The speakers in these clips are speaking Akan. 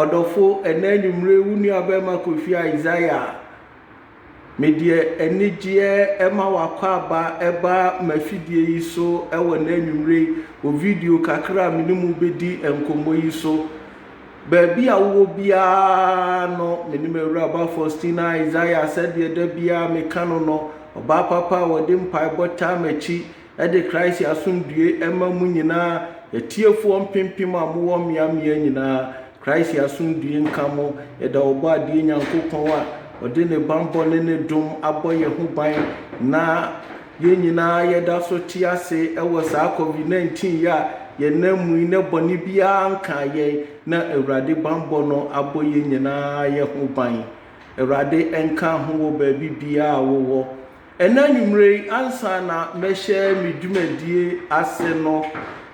Ɔdɔfo, ɛnnɛ anwummere wo nuabarima Kofi Isaiah a, medeɛ anigyeɛ ma w'akwaaba ba m'afidie yi so wɔ nnɛ anwummere yi wɔ video kakra a me ne mo bɛdi nkɔmmɔ yi so. Baabi a wowɔ biara no, me ne m'awuraba Faustina Isaiah, sɛdeɛ da biara meka no no, ɔbaa papa a ɔde mpaebɔ taa m'akyi, de Christ asomdwoe ma mo nyinaa, atiefoɔ mpempem a mowɔ mmeammea nyinaa. Christ asomdwoe nka mo. Yɛda Ɔbɔadeɛ Nyankopɔn a ɔde ne banbɔ ne ne dom abɔ yɛn ho ban na. Yɛn nyinaa yɛda so te ase wɔ saa covid 19 yi a yɛnam mu yi na bɔne biara nkaa yɛn na Awurade bammɔ no abɔ yɛn nyinaa yɛ ho ban. Awurade nka ho wɔ baabi biara a wowɔ. Ɛnɛ anwumerɛ yi ansa na mɛhyɛ me dwumadie ase no,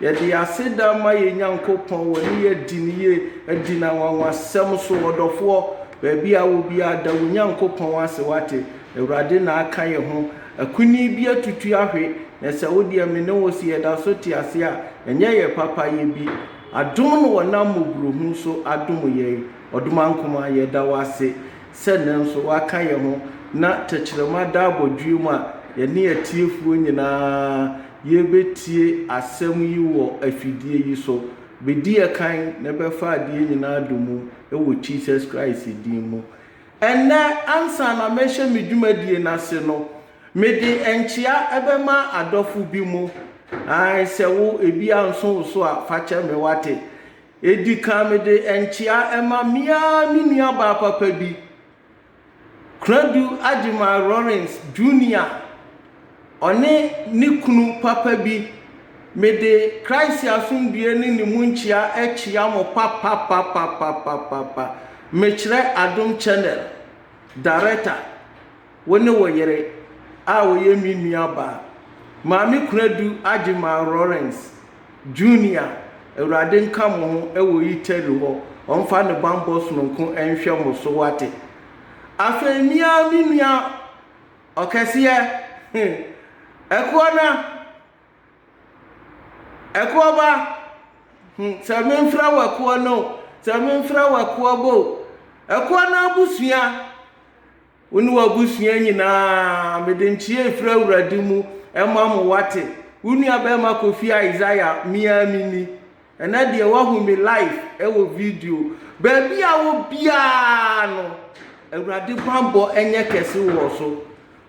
yɛde aseda ma yɛn Nyankopɔn wɔne yɛ adi no yie adi no anwanwasɛm so. Ɔdɔfoɔ, baabi a wɔ biara da wo Nyankopɔn ase wate. Awurade na aka yɛn ho. Akunini bi atutu ahwe, na sɛ wo deɛ me ne wo sɛ yɛda so te ase a, ɛnyɛ yɛn papayɛ bi. Adom na ɔnam mmɔborɔhunu so adom yɛn. Ɔdomankoma, yɛda wo ase sɛ nnɛ nso woaka yɛn ho na tɛkyerɛma da abɔdweɛ mu a yɛne atiefoɔ nyinaa yɛrebɛtie asɛm yi wɔ afidie yi so. Bɛdi yɛn kan na bɛfa adeɛ nyinaa domu wɔ Jesus Christ din mu. Ɛnnɛ, ansa na mɛhyɛ me dwumadie no ase no, mede nkyea bɛma adɔfo bi mo. Ae, sɛ wo, ebi anso wo so a, fa kyɛ me, woate. Edi kan mede nkyea ma me ara me nuabaa papa bi, Kunadu Agyemang Lawrence, Junior. Ɔne ne kunu papa bi. Mede Christ asomdwoeɛ ne ne mu nkyea kyea mo papapapapapapa. Mekyerɛ Adom Channel Director, wo ne wo yere a ɔyɛ me nuabaa, Maame Kunadu Agyemang Lawrence, Junior, Awurade nka mo ho wɔ Italy hɔ, ɔmfa ne bammɔ sononko nhwɛ mo so, wate. Afei me ara me nua ɔkɛseɛ he, ɛkoɔ no ɛkoɔ ba he, sɛ memfrɛ wo ɛkoɔ no o, sɛ memfrɛ wo ɛkoɔ ba o, ɛkoɔ no abusua, wo ne w'abusua nyinaa, mede nkyea firi Awurade mu ma mo, woate? Wo nuabɛɛma Kofi Isaiah, me ara me ni. Ɛnɛ deɛ wahu me live ɛwɔ video baabi a wɔ biara no awurade banbɔ ɛnyɛ kɛse wɔ so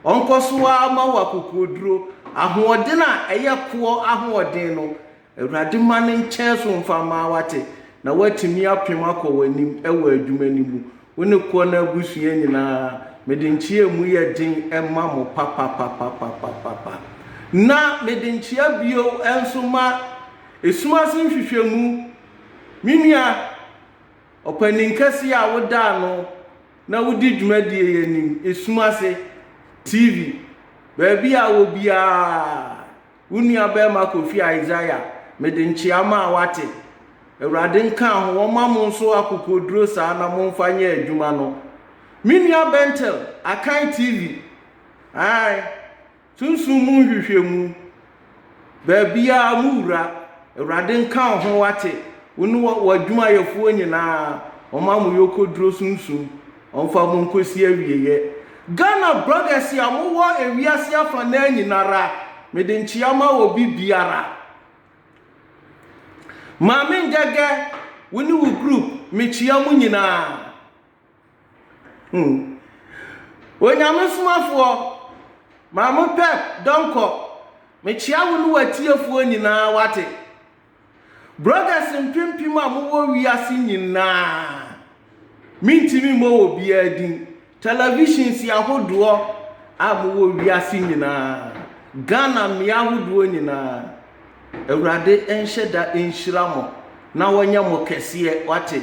ɔnkɔ so ara ma wɔ akokoɔduro ahoɔden a ɛyɛ koɔ ahoɔden no awurade ma ne nkyɛn so mfa maa wate na watumi apem akɔ w'anim ɛwɔ adwuma no mu Wo ne koɔ no abusua nyinaa, mede nkyea a emu yɛ den ma mo papapapapapapa. Na mede nkyea bio nso ma esum ase nhwehwɛmu, me nua ɔpanin kɛseɛ a woda ano na wodi dwumadie yi anim, esum ase TV, baabi a wɔ biara. Wo nuabarima Kofi Isaiah, mede nkyea ma a wate. Awurade nka ho, ɔmma mo nso akokoɔduro saa na momfa nyɛ adwuma no. Me nua Bentel, Akan TV, ae, sunsum mu nhwehwɛmu, baabiara mo wura, Awurade nka wo ho wate, wo ne w'adwumayɛfoɔ nyinaa, ɔmma mo yɔkɔduro sunsum Ɔmfa mo nkɔsi awieɛ. Ghana brothers a mo wɔ ewiase afanaa nyinara mede nkyea ma obi biara. Maame Ngɛgɛ wo ne wo group me kyea mo nyinaa. Hmm. Onyame somafoɔ Maame Pep Donkor me kyea wo ne w'atiefoɔ nyinaa wate. Brothers mpempem a mowɔ wiase nyinaa, mentumi mmɔ wɔ biara din, televisions ahodoɔ a mowɔ wiase nyinaa, Ghana mmea ahodoɔ nyinaa, Awurade nhyɛ da nhyira mo na ɔnyɛ mo kɛseɛ, wate.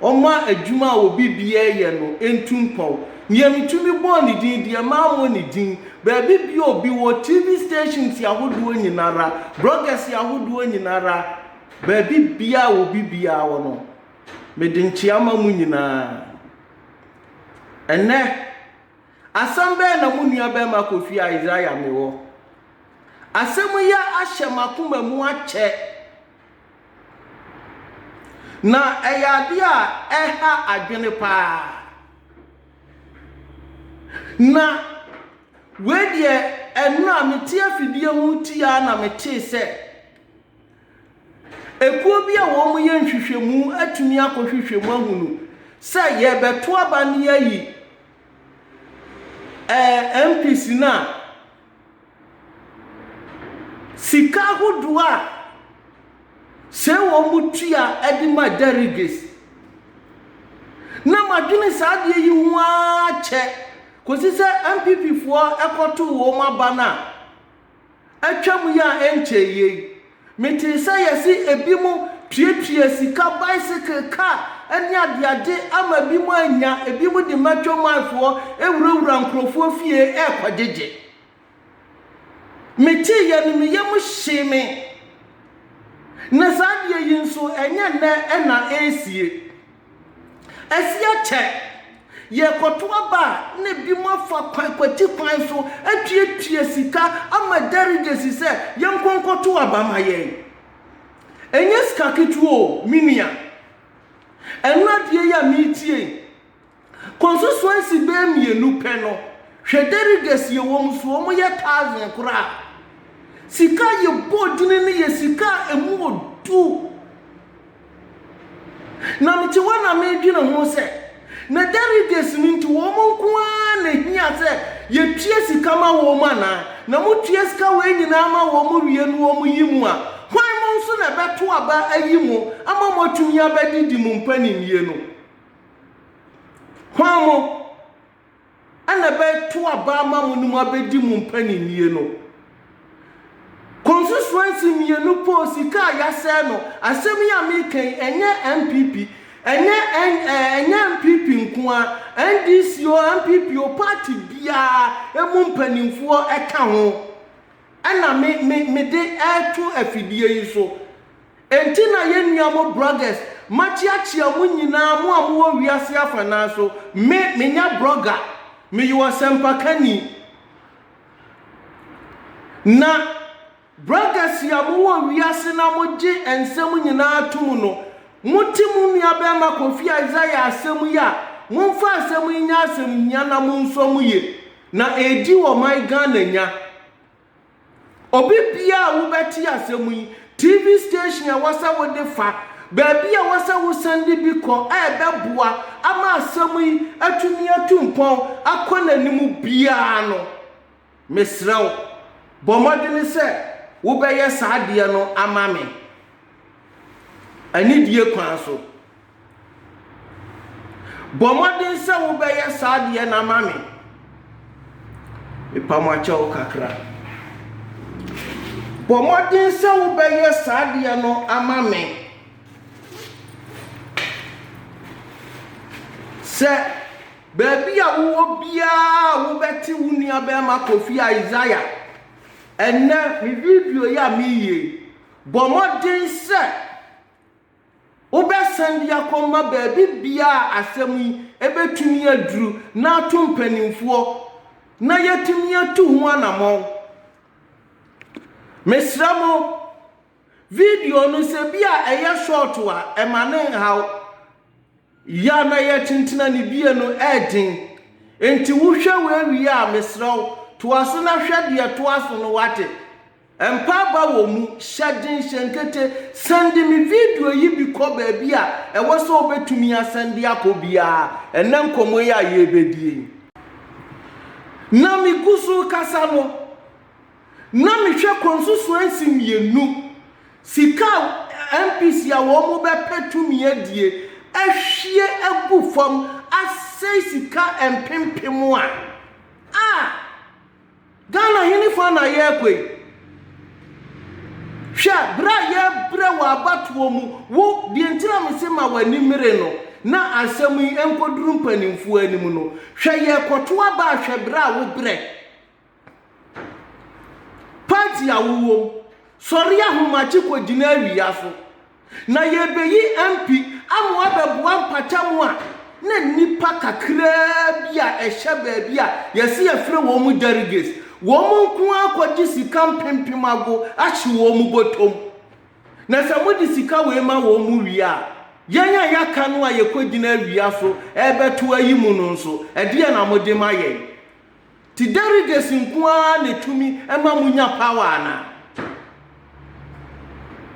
Ɔmma adwuma a obi biara yɛ no ntu mpɔw. Nea mitumi bɔɔ ne din deɛ, mammɔ ne din. Baabi biara a obi wɔ, TV stations ahodoɔ nyinara, bloggers ahodoɔ nyinara, baabi biara a obi biara wɔ no, mede nkyea ma mo nyinaa. Ɛnnɛ, asɛm bɛn na mo nuabarima Kofi Isaiah mewɔ? Asɛm yi ahyɛ m'akoma mu akyɛ. Na ɛyɛ adeɛ a ɛha adwene paa. Na wei deɛ ɛno a mete afidie ho ti ara na metee sɛ ekuo bi a wɔyɛ nhwehwɛmu atumi akɔhwehwɛ mu ahunu sɛ yɛrebɛto aba no yɛayi ɛɛ MPs no a Sika ahodoɔ a sɛ wɔtua de ma Deriges. Na madwene saa adeɛ yi ho ara kyɛ kɔsi sɛ NPPfoɔ kɔtoo wɔn aba no a atwam yi a ɛnkyɛeɛ yi. Metee sɛ yɛse ebinom tuatua sika bicycle, car ne adeade ama ebinom anya, ebinom de matwa mu afoɔ wurawura nkurɔfoɔ fie rekɔgyegye. Metee yɛ no me yam hyee me. Na saa adeɛ yi nso ɛnyɛ nnɛ na ɛresie. Asi akyɛ. Yɛrekɔto aba a, na ebinom afa kwan, kwati kwan so atuatua sika ama dɛregesi sɛ yɛnkɔ nkɔto aba ma yɛn. Ɛnyɛ sika ketewa o, me nua. Ɛno adeɛ yi a meretie yi, constituency bɛyɛ mmienu pɛ no, hwɛ dɛregesi a wɔn so, wɔn yɛ thousand koraa. Sika a yɛbɔ din no yɛ sika a ɛmu ɔdu. Na mete hɔ na medwene ho sɛ, na delegates no nti wɔn nko ara na ehia sɛ yetua sika ma wɔn anaa? Na motua sika wei nyinaa ma wɔn wie no wɔyi mo a, hwan mo nso na ɛbɛto aba ayi mo ama moatumi abɛdidi mo mpaninnie no? Hwan mo? na ɛbɛto aba ama mo ne mo abɛdi mo mpaninnie no. Konsusuansi mmienu poo sika a yɛasɛe no. Asɛm yi a mereka yi, ɛnyɛ NPP, ɛnyɛ N, eh, ɛnyɛ NPP nko ara, NDC o, NPP o, party biara, ɛmu mpanimfoɔ ɛka ho. na me me mede reto afidie yi so. Enti na yɛn nua mo broggers, makyeakyea mo nyinaa, mo a mowɔ wiase afanaa so. Me, menyɛ brogger, meyɛ ɔsɛmpakani. Na broggers a mowɔ wiase na mogye nsɛm nyinaa tom no, mote mo nuabarima Kofi Isaiah asɛm yi a, momfa asɛm yi nyɛ asɛmhia na monsɔ mu yie. Na edi wɔ ɔman Ghana nya. Obi biara a wobɛte asɛm yi, TV station a ɛwɔ sɛ wode fa, baabi a ɛwɔ sɛ wo sɛnde bi kɔ a ɛbɛboa ama asɛm yi atumi atu mpɔn akɔ n'anim biara no, mesrɛ wo, bɔ mmɔdene sɛ wobɛyɛ saa adeɛ no ama me, anidie kwan so. Bɔ mmɔden sɛ wobɛyɛ saa deɛ no ama me. Mepa mo akyɛ wo kakra. Bɔ mmɔden sɛ wobɛyɛ saa deɛ no ama me. Sɛ baabi a wowɔ biara wobɛte wo nua bɛrima Kofi Isaiah ɛnɛ me video yi a meyie bɔ mmɔden sɛ Wobɛsan de akɔma baabi biara a asɛm yi bɛtumi aduru na ato mpanimfoɔ na yɛatumi atu ho anammɔn. Mesrɛ mo, video no sɛ bi a ɛyɛ short a, ɛma no nhaw. Yɛ a na yɛretenten anibue no yɛ den. Enti wohwɛ wei wie a, mesrɛ wo, toa so na hwɛ deɛ ɛtoa so no, woate? Mpa aba wɔ mu, hyɛ den, hyɛ nkete, sɛnde me video yi bi kɔ baabi a ɛwɔ sɛ wobɛtumi asɛnde akɔ biara, ɛnnɛ nkɔmmɔ yi a yɛrebɛdie yi. Na megu so rekasa no. na mehwɛ consusuancy mmienu, sika a MPs a wɔn bɛpɛ tumi adie ahwie agu fam asɛe sika mpempem a, ah, Ghana hene fa na yɛrekɔ yi? Hwɛ, berɛ a yɛrebrɛ wɔ abatoɔ mu, wo, deɛ nti na mese ma w'ani mmere no, na asɛm yi nkɔduru mpanimfoɔ anim no, hwɛ yɛrekɔto aba a hwɛ berɛ a wobrɛ. Party a wowɔ mu, sɔre ahomakye kɔgyina awia so, na yɛrebɛyi MP ama wabɛboa mpatamu a na nnipa kakraa bi a ɛhyɛ baabi a yɛse yɛfrɛ wɔn mu delegates, wɔn nko ara kɔgye sika mpempem ago ahye wɔn mu bɔtɔm. Na sɛ mode sika wei ma wɔn mu wie a, yɛn a yɛaka no a yɛkɔgyina awia so rebɛto ayi mu no nso, ɛdeɛn na mode ma yɛn? Nti derides nko ara na ɛtumi ma mo nya power anaa?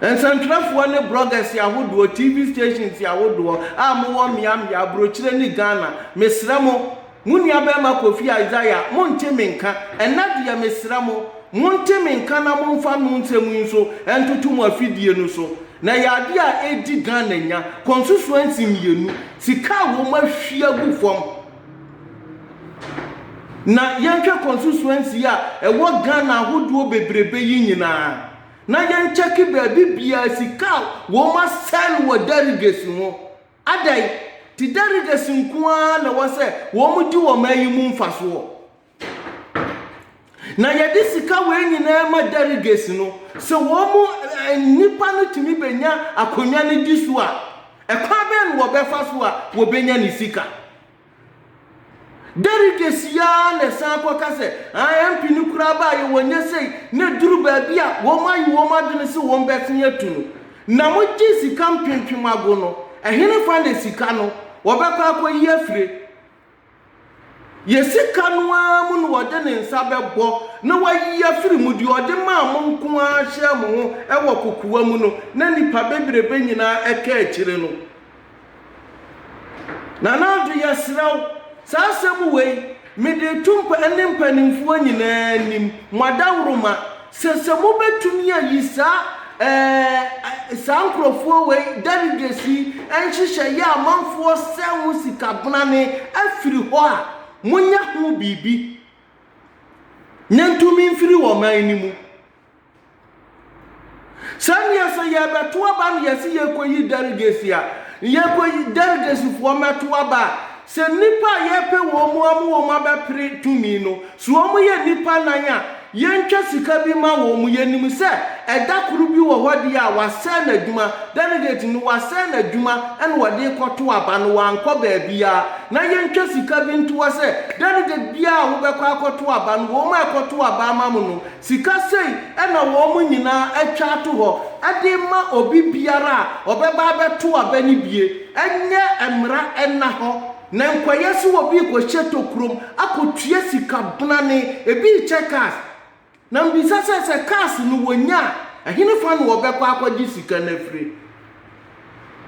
Nsɛntwerɛfoɔ ne bloggers ahodoɔ, TV stations ahodoɔ a mowɔ mmea mmea, abrokyire ne Ghana, mesrɛ mo, mo nua barima Kofi Isaiah, monte me nka, ɛnnɛ deɛ mesrɛ mo, monte me nka na momfa no nsɛm yi nso ntoto mo afidie no so, na ɛyɛ adeɛ a ɛdi Ghana nya, constituency mmienu, sika a wɔahwie agu fam. Na yɛnhwɛ constituency a ɛwɔ Ghana ahodoɔ bebrebe yi nyinaa na yɛnkyɛke baabi biara sika a wɔasɛe no wɔ delegates no ho. Adɛn nti delegates nko ara na ɛwɔ sɛ wɔdi ɔman yi mu mfasoɔ? Na yɛde sika wei nyinaa ma delegates no. Sɛ wɔn mu eh, nnipa no tumi bɛnya akonnwa no di so a, ɛkwan bɛn na wɔbɛfa so a wɔbɛnya ne sika? Delegates yi ara na ɛsan kɔka sɛ, ah, MP no koraa baeɛ wɔnyɛ sei, na ɛduru baabi a wɔayi wɔn adwene sɛ wɔbɛsen atu no. Na mogye sika mpempem ago no, ɛhenefa na sika no wɔbɛkɔ akɔyi afire? Yɛ sika no ara mu na ɔde ne nsa bɛbɔ na wayi afiri mu, deɛ ɔde maa mo nko ara hyɛɛ mo ho wɔ kokoa mu no, na nnipa bebrebe nyinaa ka akyire no. Nana Addo yɛsrɛ wo, saa asɛm wei, mede reto mpa ne mpanimfoɔ nyinaa anim, mo adaworoma, Sɛ sɛ mobɛtumi ayi saa ɛɛ saa nkorɔfoɔ wei, delegates yi, nhyehyɛ yɛ amanfoɔ sɛ ho sika bonane afiri hɔ a, monyɛ ho biribi na ntumi mfiri ɔman no mu. Sɛ neɛ sɛ yɛrebɛto aba na yɛse yɛrekɔyi delegates a, yɛkɔyi delegates foɔ mmɛto aba a, Sɛ nnipa a yɛrepɛ wɔn mu ama wɔn abɛpere tumi no, so wɔyɛ nnipa nnan a yɛntwa sika bi mma wɔn? Yɛnim sɛ ɛda koro bi wɔ hɔ deɛ a wɔasɛe n'adwuma, delegate no, wɔasɛe n'adwuma na wɔde rekɔto aba no, wankɔ baabiara, na yɛntwa sika bi nto hɔ sɛ delegate biara a wobɛkɔ akɔto aba no, wɔn a ɛkɔto aba ama mo no, Sika sei na wɔn nyinaa atwa ato hɔ de rema obi biara a ɔbɛba abɛto aba no bi. Ɛnyɛ mmara nna hɔ na nkwayɛ so wɔ bi rekɔhyɛ tokurom akɔtua sika bonane, ebi rekyɛ cars. Na mebisa sɛ, sɛ cars no wɔnya a, ɛhenefa na wɔbɛkɔ akɔgye sika no afiri?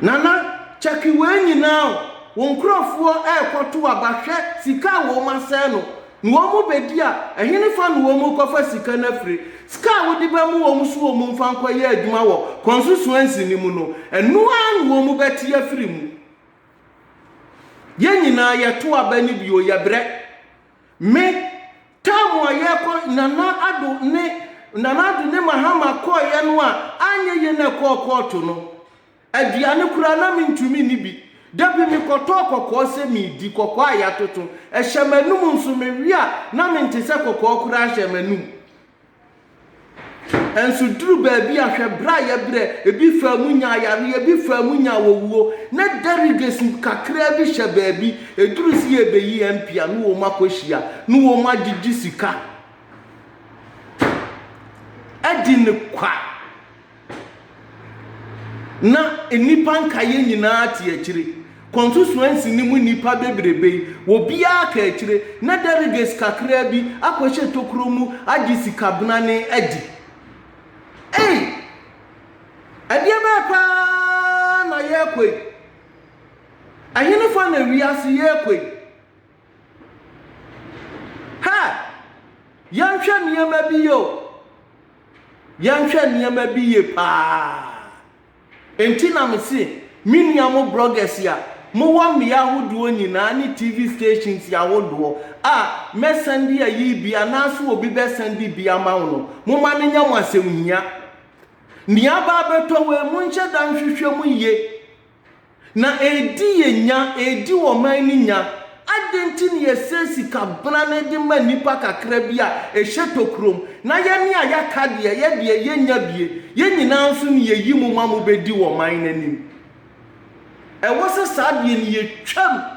Nana check wei nyinaa o, wo nkurɔfoɔ ɛrekɔto aba hwɛ sika a wɔn asɛe no, na wɔn bɛdi a ɛhenefa na wɔn rekɔfa sika no afiri? Sika a wode bɛma wɔn so wɔn mfa nkɔyɛ adwuma wɔ constituency no mu no, ɛno ara na wɔn bɛte afiri mu. Yɛn nyinaa yɛto aba no bi o, yɛbrɛ. Me, time a yɛkɔ Nana Addo ne Nana Addo ne Mahama kɔeɛ no a anyɛ yie na ɛkɔɔ kɔɔto no, aduane koraa na mentumi nni bi. Da bi mekɔtɔɔ kɔkɔɔ sɛ meredi, kɔkɔɔ a yɛatoto. Ɛhyɛ m'anum nso, mewe a na mente sɛ kɔkɔɔ koraa hyɛ m'anum. Nanso eduruu baabi a, hwɛ bere a yɛbrɛ! Ebi faa mu nyaa yareɛ, ebi faa mu nyaa owuo. Na derogation kakraa bi hyɛ baabi. Eduruu sɛ yɛrebɛyi MP a, ne wɔn akɔhyia, ne wɔn agyegye sika adi no kwa. na nnipa nkaeɛ nyinaa te akyire. Konsusuansi no mu nnipa bebrebe yi, obiara ka akyire, na delegates kakraa bi akɔhyɛ tokuro mu agye sikabnane adi. Ei! Ɛdeɛ bɛn paa na yɛrekɔ yi? Ɛhenefa na wiase yɛrekɔ yi? Hɛ! Yɛnhwɛ nneɛma bi yie o. Yɛnhwɛ nneɛma bi yie paa. Enti na me se, me nua mo bloggers a mowɔ mmea ahodoɔ nyinaa ne TV stations ahodoɔ a mɛsɛnde ayi bi anaasɛ obi bɛsɛnde bi ama wo no, momma no nyɛ mo asɛmhia. Nea aba abɛtɔ wei, monhyɛ da nhwehwɛ mu yie. Na ɛredi yɛn nya, ɛredi ɔman no nya. Adɛn nti na yɛsɛe sika brane de ma nnipa kakra bi a ɛhyɛ tokurom, na yɛne a yɛaka deɛ, yɛ deɛ, yɛnnya bie? Yɛn nyinaa nso na yɛyi mo ma mobɛdi ɔman no anim. Ɛwɔ sɛ saa deɛ no yɛtwam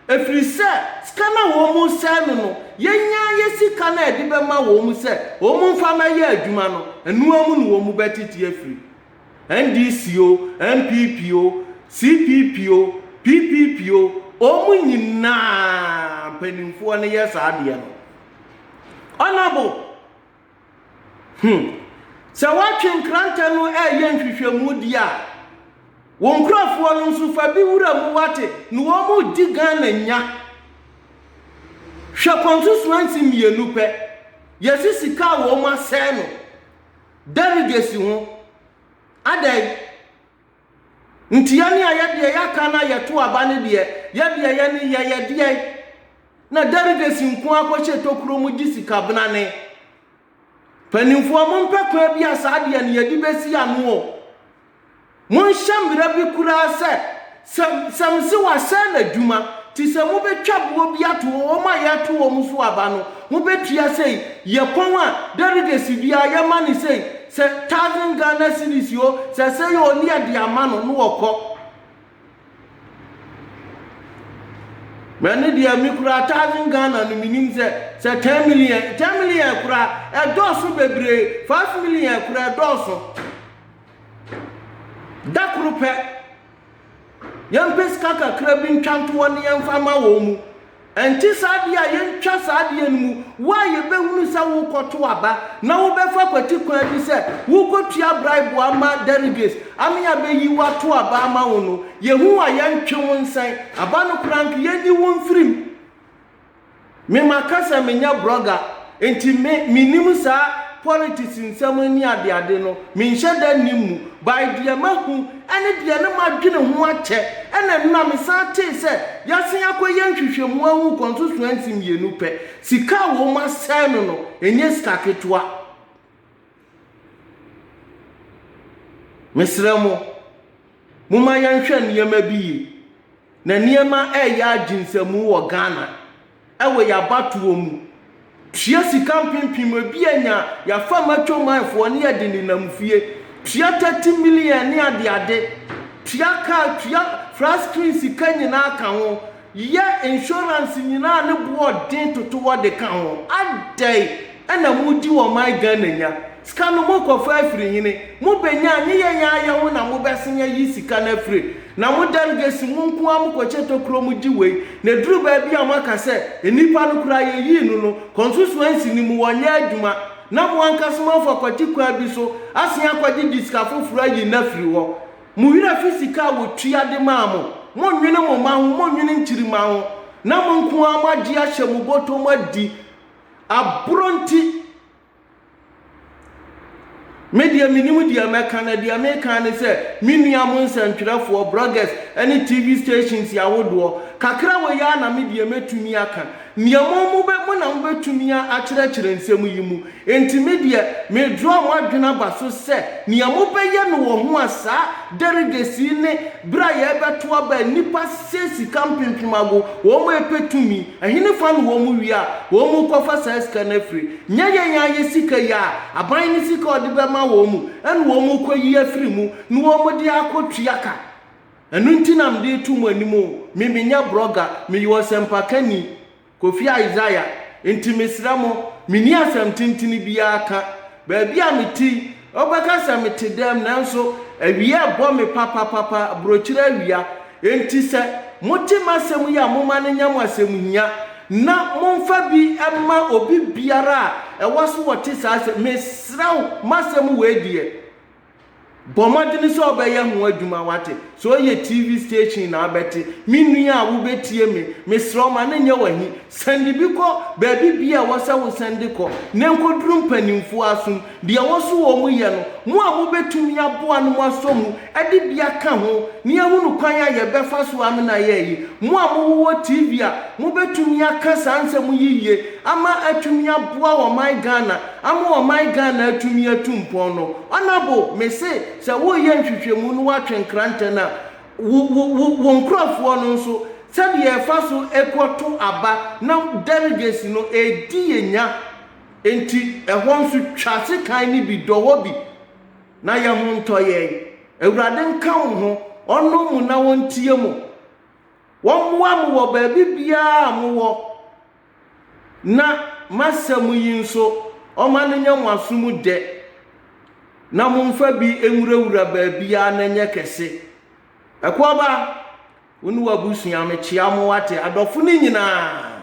Ɛfiri sɛ sika no a wɔresɛe no no, yɛnya yɛ sika no a yɛde bɛma wɔn sɛ wɔmfa mmɛyɛ adwuma no, ɛno ara mu na wɔbɛtete afiri. NDC o, NPP o, CPP o, PPP o, wɔn nyinaa mpanimfoɔ no yɛ saa adeɛ no. Honourable. Hmm. Sɛ woatwe nkrantɛ no ɛreyɛ nhwehwɛmu di a, wo nkurɔfoɔ no nso fa bi wura mu wate, na wɔn mu di Ghana nya. Hwɛ constituency mmienu pɛ, yɛsi sika a wɔn asɛe no, delegacy ho, adɛn? Nti yɛne a yɛ deɛ yɛaka na yɛto aba no deɛ, yɛ deɛ yɛ ne yɛ yɛ deɛ. Na delegates nko ara kɔhyɛ tokuro mu gye sika benane. Mpanimfoɔ mompɛ kwan bi a saa deɛ no yɛde bɛsi ano o. Monhyɛ mmara bi koraa sɛ, sɛ, sɛ mese wɔasɛe n'adwuma, te sɛ mobɛtwa boɔ bi ato hɔ, wɔn a yɛreto wɔn so aba no, mobɛtua sei, yɛpɔn a, delegates biara yɛma no sei, Sɛ thousand Ghana cedis oo sɛ sɛ yɛ ɔni ɛde ama no no ɔkɔ. Mɛne deɛ me kura thousand Ghana no menim sɛ sɛ ten million ten million kura ɛdɔɔso bebree five million kura ɛdɔɔso da koro pɛ. Yɛmpɛ sika kakra bi ntwa ntoɔ ne yɛmfa ma wɔn mu. Ɛnte saa deɛ a, yɛntwa saa adeɛ no mu. Wo a yɛbɛhunu sɛ worekɔto aba na wobɛfa kwati kwan bi sɛ worekɔtua braibo ama delegates ama yɛabɛyi wo ato aba ama wo no, yɛhu wo a, yɛntwe wo nsɛn. Aba no koraa nka, yɛnyi wo mfiri mu. Me makasa menyɛ brɔga nti me menim saa politics nsɛm ne adeade no menhyɛ da nnim mu by deɛ mahu ɛne deɛ ne madwene ho akyɛ ɛna nna mesan tee sɛ yasen akɔyɛ nhwehwɛmu ahu constituency mmienu pɛ sika a wɔn asɛe no no ɛnyɛ sika ketewa. Mesrɛ mo, momma yɛnhwɛ nneɛma bi yie. Na nneɛma reyɛ agyensamu wɔ Ghana wɔ yɛn abatoɔ mu. Tua sika mpempem, ebi anya, yɛafa macho man foɔ ne yɛde nenam fie. Tua thirty million ne adeade. Tua car, tua flat screen sika nyinaa ka ho. Yɛ insurance nyinaa ne boɔ den toto hɔ de ka ho. Adɛn na mo di ɔman Ghana nya? Sika no mo kɔ fa afiri hene? Mo bɛ nya a ne yɛ yɛ ayɛ ho na mo bɛ sen ayi sika no afire? Na mo delegates mo nko ara mo kɔ kyɛ tokuro mo gye wei na ɛduru baabi a mo aka sɛ nnipa no koraa yɛ yii no no consusuancy no mu wɔ nyɛ adwuma na mo ankasa mo afa kwati kwan bi so asen akɔgye gye sika foforo ayi no afiri hɔ. Mo werɛ fi sika a wɔtua de maa mo. Monnwene mo mma ho, monnwene nkyirimma ho, na mo nko ara moagye ahyɛ mo bɔtɔm adi. Aborɔ nti, me deɛ mennim deɛ mɛka, na deɛ meka ara ne sɛ, me nua mo nsɛntwerɛfoɔ, bloggers, ne TV stations ahodoɔ, kakra wɔ yi ara na me deɛ mɛtumi aka. Nea mo mo bɛ, mo na mo bɛtumi a akyerɛkyerɛ nsɛm yi mu. Enti me deɛ, me draw mo adwene aba so sɛ, nea mo bɛyɛ no wɔ ho a saa derriges yi ne berɛ a yɛrebɛto aba a nnipa sɛ sika mpempem ago, wɔn mo ɛpɛ tumi, ɛhene fa no wɔn mo wie a, wɔn mo kɔfa saa sika no afiri. Nyɛ yɛn ara yɛ sika yi a, aban no sika a ɔde bɛma wɔn mu, ɛna wɔn mo kɔyi afiri mu, na wɔn mo de akɔ tua ka. Ɛno nti na mede reto mo anim o, me menyɛ brɔga, meyɛ ɔsɛmpakani, Kofi Isaiah, nti mesrɛ mo, menni asɛm tentene biara ka. Baabi a mete yi, wobɛka sɛ mete dɛm nanso awia rebɔ me papapapa, aburokyire awia, nti sɛ mote m'asɛm yi a momma no nyɛ mo asɛmhia na momfa bi mma obi biara a ɛwɔ so wɔte saa asɛm, mesrɛ wo, m'asɛm wei deɛ. Bɔ mmɔden sɛ wobɛyɛ ho adwuma, woate. Sɛ ɔyɛ TV station na wobɛte. Me nua a wobɛtie me, mesrɛ wo, ma no nyɛ w'ahi. Sɛnde bi kɔ baabi biara a ɛwɔ sɛ wosɛnde kɔ, na ɛnkɔduru mpanimfoɔ asom. Deɛ ɛwɔ so wɔ mu yɛ no, mo a mobɛtumi aboa no moasɔ mu de bi aka ho, na yɛahunu kwan a yɛbɛfa so amena ayɛ ayi. Mo a mowowɔ TV a, mobɛtumi aka saa nsɛm yi yie ama atumi aboa ɔman Ghana. Ama ɔman Ghana atumi atu mpɔn no, Ɔnabo, me se sɛ woreyɛ nhwehwɛmu no woatwe nkrantɛ na wo wo wo wo nkorɔfoɔ no nso sɛdeɛ ɛfa so ɛkɔ to aba na delegates no ɛredi yɛ nya nti ɛhɔ nso twa sekan no bi dɔ hɔ bi na yɛ ho ntɔ yɛn. Awurade nka wo ho, Ɔnnɔ mo na Ɔntie mo. Ɔmmoa mo wɔ baabi biara a mo wɔ. na m'asɛm yi nso, ɔma no nya mo aso mu dɛ, na momfa bi nwurawura baabiara na ɛnyɛ kɛse. Ɛkɔɔba, wo ne w'abusua, mekyea mo, woate, adɔfo no nyinaa.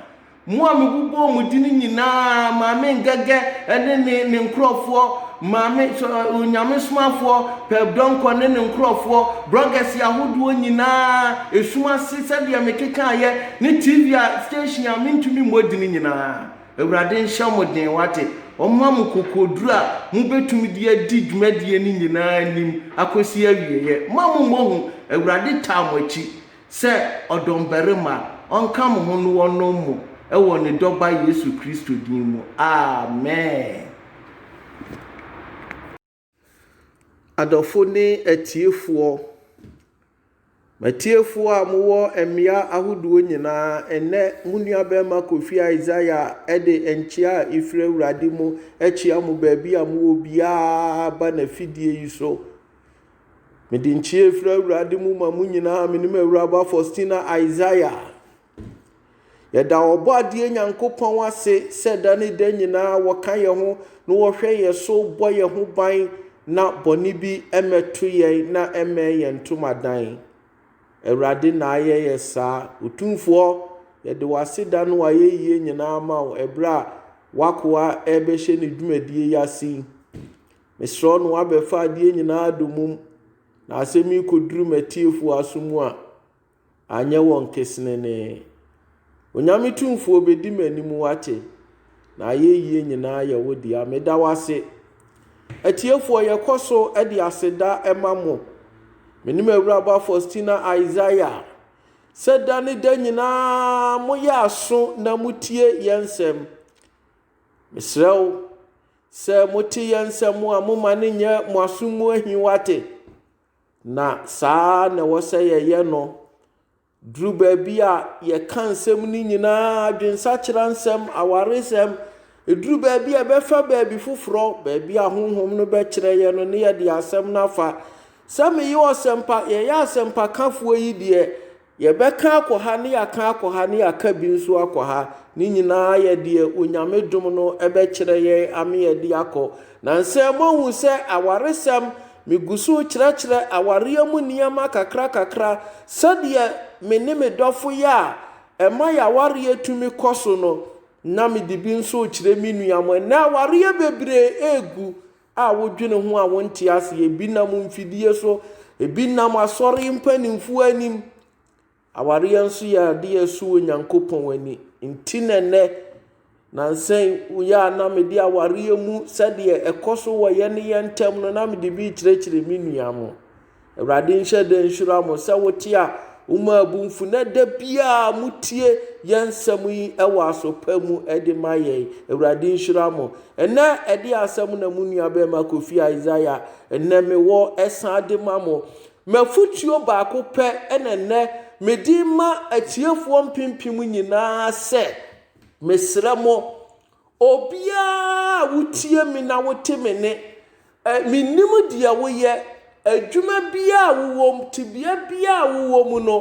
Mo a mebobɔɔ mo din nyinaa maa me ngɛgɛ ne me nkurɔfoɔ, Maame, Onyamesomafoɔ, Pɛp Donkor ne ne nkorɔfoɔ, brɔgɛse ahodoɔ nyinaa, esum ase sɛdeɛ mekekaaeɛ, ne TV a, station a mentumi mmɔ dini nyinaa. Awurade nhyɛ mo den, wate? Ɔmma mo kokoɔduro a mobɛtumi de adi dwumadie no nyinaa anim akɔsi awieɛ. Mma mo mmɔ hu. Awurade taa mo akyi sɛ ɔdɔmbarima. Ɔnka mo ho na ɔnom mo wɔ Ne Dɔba Yesu Kristo din mu. Amen. Adɔfo ne atiefoɔ, m'atiefoɔ a mo wɔ mmea ahodoɔ nyinaa, ɛnnɛ mo nua barima Kofi Isaiah ɛde nkyea a efiri Awurade mu ɛkyea mo baabi a mo wɔ biara aba n'afidie yi so. Mede nkyea efiri Awurade mu ma mo nyinaa, me ne m'awuraba Faustina Isaiah. Yɛda Ɔbɔadeɛ Nyankopɔn ase sɛ da ne da nyinaa ɔka yɛn ho na ɔhwɛ yɛn so bɔ yɛn ho ban na bɔne bi mmɛto yɛn na ɛmmɛn yɛn ntomadan. Awurade na ayɛ yɛ saa. Otumfoɔ, yɛde w'ase da no ayɛyie nyinaa ma wo ɛberɛ a w'akoa ɛrebɛhyɛ ne dwumadie yi ase yi. Mesrɛ no abɛfa adeɛ nyinaa domum na asɛm yi kɔduru m'atiefoɔ aso mu a, Anyɛ wɔn kesenenee. Onyame Tumfoɔ bɛdi m'anim woate, na ayɛyie nyinaa yɛ wo dea. Meda wo ase. Atiefoɔ yɛkɔso de aseda ma mo. Me ne m'awuraba Faustina Isaiah. Sɛ da ne da nyinaa moyɛ aso na motie yɛn nsɛm. Mesrɛ wo, sɛ mote yɛn nsɛm a momma no nyɛ mo aso mu ahi woate. Na saa ara na ɛwɔ sɛ yɛyɛ no duru baabi a yɛka nsɛm no nyinaa, adwensakyera nsɛm, awaresɛm, ɛduru baabi a ɛbɛfa baabi foforɔ, baabi a honhom no bɛkyerɛ yɛ no ne yɛde asɛm no afa. Sɛ meyɛ ɔsɛmpa, yɛyɛ asɛmpakafoɔ yi deɛ, Yɛbɛka akɔ ha ne yɛaka akɔ ha ne yɛaka bi nso akɔ ha, ne nyinaa yɛ deɛ Onyame dom no bɛkyerɛ yɛn ame yɛde akɔ. Nansɛ moahu sɛ awaresɛm, me gu so rekyerɛkyerɛ awareɛ mu nneɛma kakra kakra sɛdeɛ me ne me dɔfo yɛ a ɛma yɛn awareɛ tumi kɔ so no, na mede bi nso rekyerɛ me nua mo. Ɛnnɛ awareɛ bebree regu a wodwene ho a wonte ase, ebi nam mfidie so, ebi nam asɔre mpanimfoɔ anim. Awareɛ nso yɛ adeɛ a ɛsɔ Onyankopɔn ani. Nti na ɛnɛ, nansa yi woyɛ a na mede awareɛ mu sɛdeɛ ɛkɔ so wɔ yɛne yɛn ntam no na mede bi rekyerɛkyerɛ me nua mo. Awurade nhyɛ den nhyira mo sɛ wote a womaabu mfu na da biara motie yɛn nsɛm yi wɔ asopa mu de ma yɛn. Awurade nhyira mo. Ɛnɛ ɛde asɛm na mo nua bɛrima Kofi Isaiah ɛnɛ mewɔ ɛsan de ma mo. Mafutuo baako pɛ ɛna ɛnɛ mede ma atiefoɔ mpempem nyinaa sɛ mesrɛ mo Obiara a wotie me na wote me nne. Menim deɛ woyɛ, adwuma biara a wowɔ mu, tebea biara a wowɔ mu no,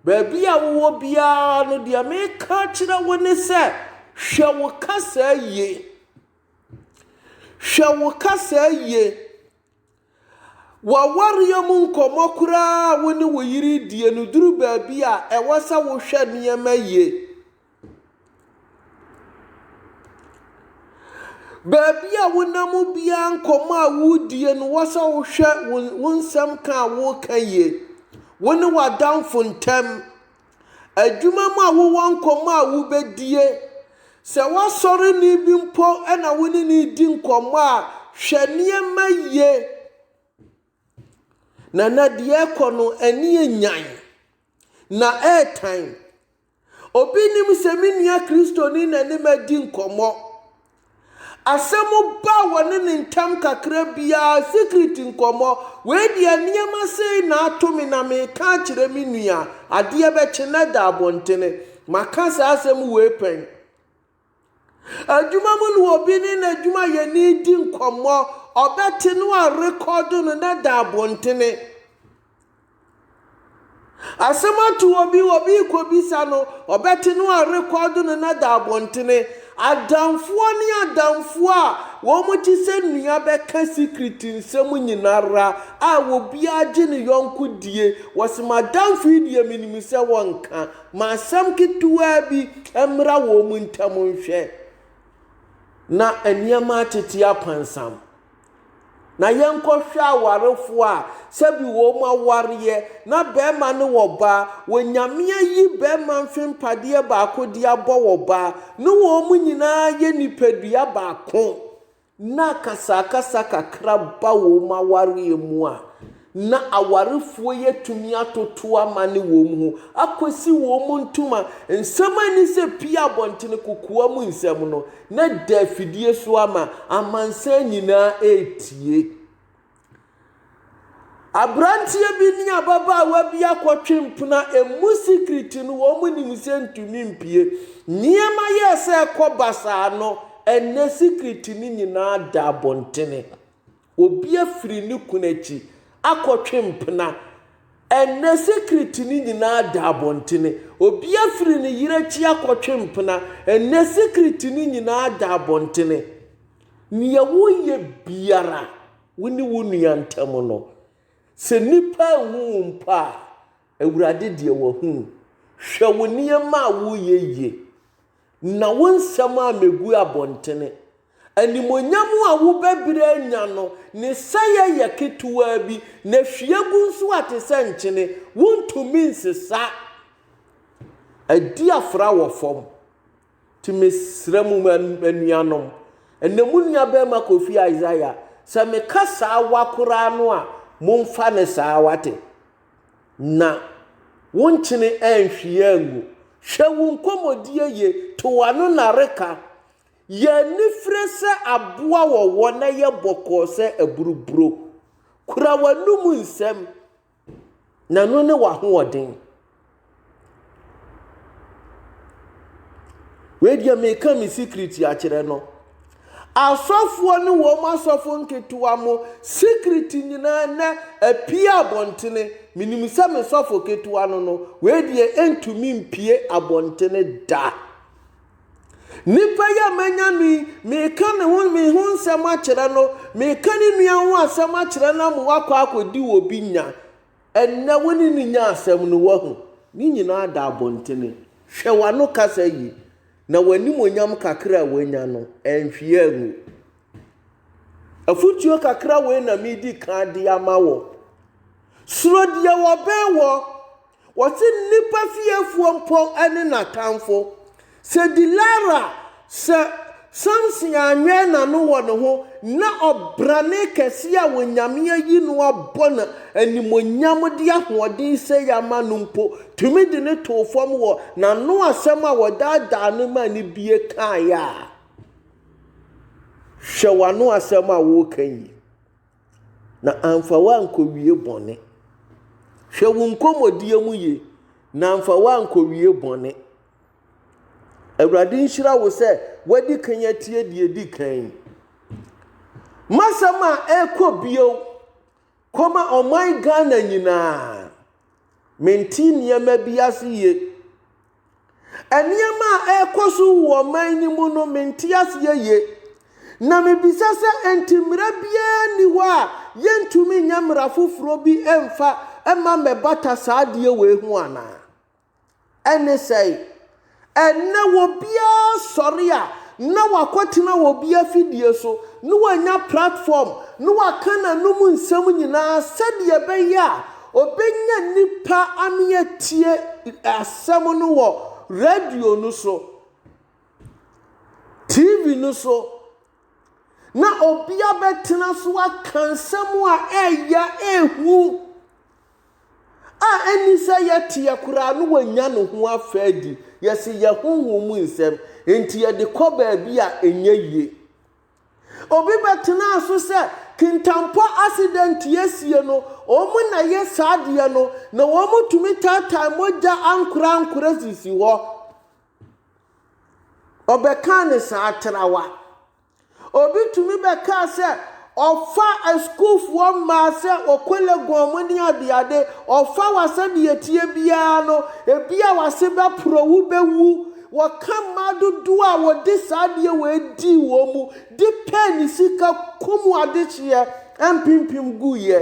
baabi a wowɔ biara no, deɛ meka akyerɛ wo ne sɛ, hwɛ wo kasaa yie. Hwɛ wo kasaa yie. W'awareɛ mu nkɔmmɔ korɔ a wo ne wo yere redie no duru baabi a, ɛwɔ sɛ wohwɛ nneɛma yie. Baabi a wonam biara nkɔmmɔ a woredie no, wɔ sɛ wohwɛ wo nsɛm ka a woreka yie, wo ne w'adamfo ntam. Adwuma mu a wowɔ nkɔmmɔ a wubedie. Sɛ w'asɔreni bi mpo na wo ne no redi nkɔmmɔ a, hwɛ nneɛma yie. Na na deɛ ɛrekɔ no ani yɛ nyan, na ɛretan. Obi nim sɛ me nua Kristoni na ne madi nkɔmmɔ. Asɛm ba wɔne no ntam kakra biara, secret nkɔmmɔ. Wei deɛ nneɛma sei na ato me na mereka akyerɛ me nua. Adeɛ bɛkye na ɛda abɔntene. Maka saa asɛm wei pɛn. Adwuma mu no obi ne n'adwumayɛni redi nkɔmmɔ, ɔbɛte na wɔarekɔdo no na ɛda abɔntene. Asɛm ato obi, obi rekɔbisa no, ɔbɛte no arekɔɔdo no na da abɔntene. Adamfoɔ ne adamfoɔ a wɔte sɛ nua bɛka secret nsɛm nyina ara a obiara gye ne yɔnko die. Wɔse m'adamfo yi deɛ menim sɛ wɔnka. Ma asɛm ketewaa bi mmra wɔn ntam nhwɛ na nneɛma atete apansam. Na yɛnkɔhwɛ awarefoɔ a sɛbi wɔn awareɛ, na barima ne wɔn ba, Onyame ayi barima mfe mpadeɛ baako de abɔ wɔn ba, ne wɔn nyinaa yɛ nipadua baako, na akasakasa kakra ba wɔn awareɛ mu a, na awarefoɔ yi atumi atoto amane wɔn ho akɔsi wɔn ntoma nsɛm ani sɛ pie abɔntene kokoa mu nsɛm no, na da afidie so ama amansan nyinaa retie. Aberanteɛ bi ne ababaawa bi akɔtwe mpena, ɛmu sikiriti no wɔnim sɛ ntumi mpue. Nneɛma yɛɛ sɛ ɛkɔ basaa no, ɛnnɛ sikiriti no nyinaa da abɔntene. Obi afiri ne kunu akyi akɔtwe mpena. Ɛnnɛ secret no nyinaa da abɔntene. Obi afiri ne yere akyi akɔtwe mpena. Ɛnnɛ secret no nyinaa da abɔntene. Nea woyɛ biara wo ne wo nua ntam no, sɛ nnipa anhu wo mpo a, Awurade deɛ wahu. Hwɛ wo nneɛma a woreyɛ yie. Na wo nsɛm a megu abɔntene. Animuonyam a wo bɛbrɛ anya no, ne sɛeɛ yɛ ketewaa bi, na hwie gu nso a te sɛ nkyene, wontumi nsesa. Adi afra wɔ fam. Nti mesrɛ mo anuanom, ɛnna mo nuabarima Kofi Isaiah, sɛ meka saa wa koraa no a, momfa no saa, wate? Na wonkyene anhwie angu. Hwɛ wo nkɔmmɔdie yie, to w'ano nareka. Yɛ anifire sɛ aboa wɔwɔ na yɛ bɔkɔɔ sɛ aburuburo. Kura w'anom nsɛm, na ɛno ne w'ahoɔden. Wei deɛ meka me secret akyerɛ no. Asɔfoɔ ne wɔn asɔfo nketewa mo secret nyinaa nɛ apue abɔntene. Menim sɛ me sɔfo ketewa no no, wei deɛ ɛntumi mpue abɔntene da. Nipa yi a manya no yi, meka ne ho me ho nsɛm akyerɛ no, meka ne nua ho asɛm akyerɛ no ama wakɔ akɔdi obi nya. Ɛnnɛ wo ne no nya asɛm no, woahu. Ne nyinaa da abɔntene. Hwɛ w'ano kasa yi, na w'animuonyam kakra a woanya no, anhwie angu. Afotuo kakra wei na medi kan de ama wo. Suro deɛ wɔbɛn wɔ. Wɔse nnipa fiefoɔ mpo ne n'atamfo. Sɛ Delila sɛ Samson anwɛn n'ano wɔ ne ho na ɔbrane kɛse a Onyame ayi no abɔ no animuonyam de ahoɔden sei ama no mpo tumi de no too fam wɔ n'ano asɛm a wɔdaadaa no maa no bie kaeɛ a, hwɛ w'ano asɛm a woreka yi na amfa woankɔwie bɔne. Hwɛ wo nkɔmmɔdie mu yie na amfa woankɔwie bɔne. Awurade nhyira wo sɛ wadi kan atie deɛ edi kan yi. Masɛm a ɛrekɔ bio kɔma ɔman Ghana nyinaa. Mente nneɛma bi ase yie. Nneɛma a ɛrekɔ so wɔ ɔman no mu no, mente aseɛ yie. Na mebisa sɛ enti mmara biara nni hɔ a yɛntumi nyɛ mmara foforɔ bi mfa mma mmɛbata saa adeɛ wei ho anaa? Ɛne sɛn? Ɛnnɛ obiara sɔre a, na wakɔtena obi afidie so, na wanya platform, na waka n'anom nsɛm nyinaa sɛdeɛ ɛbɛyɛ a ɔbɛnya nnipa ano atie asɛm no wɔ radio no so, TV no so, na obi abɛtena so aka nsɛm a ɛyɛ ahu a ɛne sɛ yɛteɛ koraa no wanya ne ho afa adi. Yɛse yɛ honhom mu nsɛm nti yɛde kɔ baabi a ɛnyɛ yie. Obi bɛtenaa so sɛ kintampɔ accident asie no wɔn na yɛ saa adeɛ no na wɔn tumi taataa mogya ankorɛ ankorɛ sisi hɔ. Ɔbɛkaa ne saa trawa. Obi tumi bɛkaa sɛ ɔfa asukuufoɔ mmaa sɛ ɔkɔ Legon mu ne adeade, ɔfa wo a sɛdeɛ ɛteɛ biara no, ebi a w'ase bɛporɔ, wobɛwu. Wɔka mmaa dodoɔ a wɔde saa adeɛ wei dii wɔn mu de pɛɛ ne sika kum adehyeɛ mpempem guiɛ.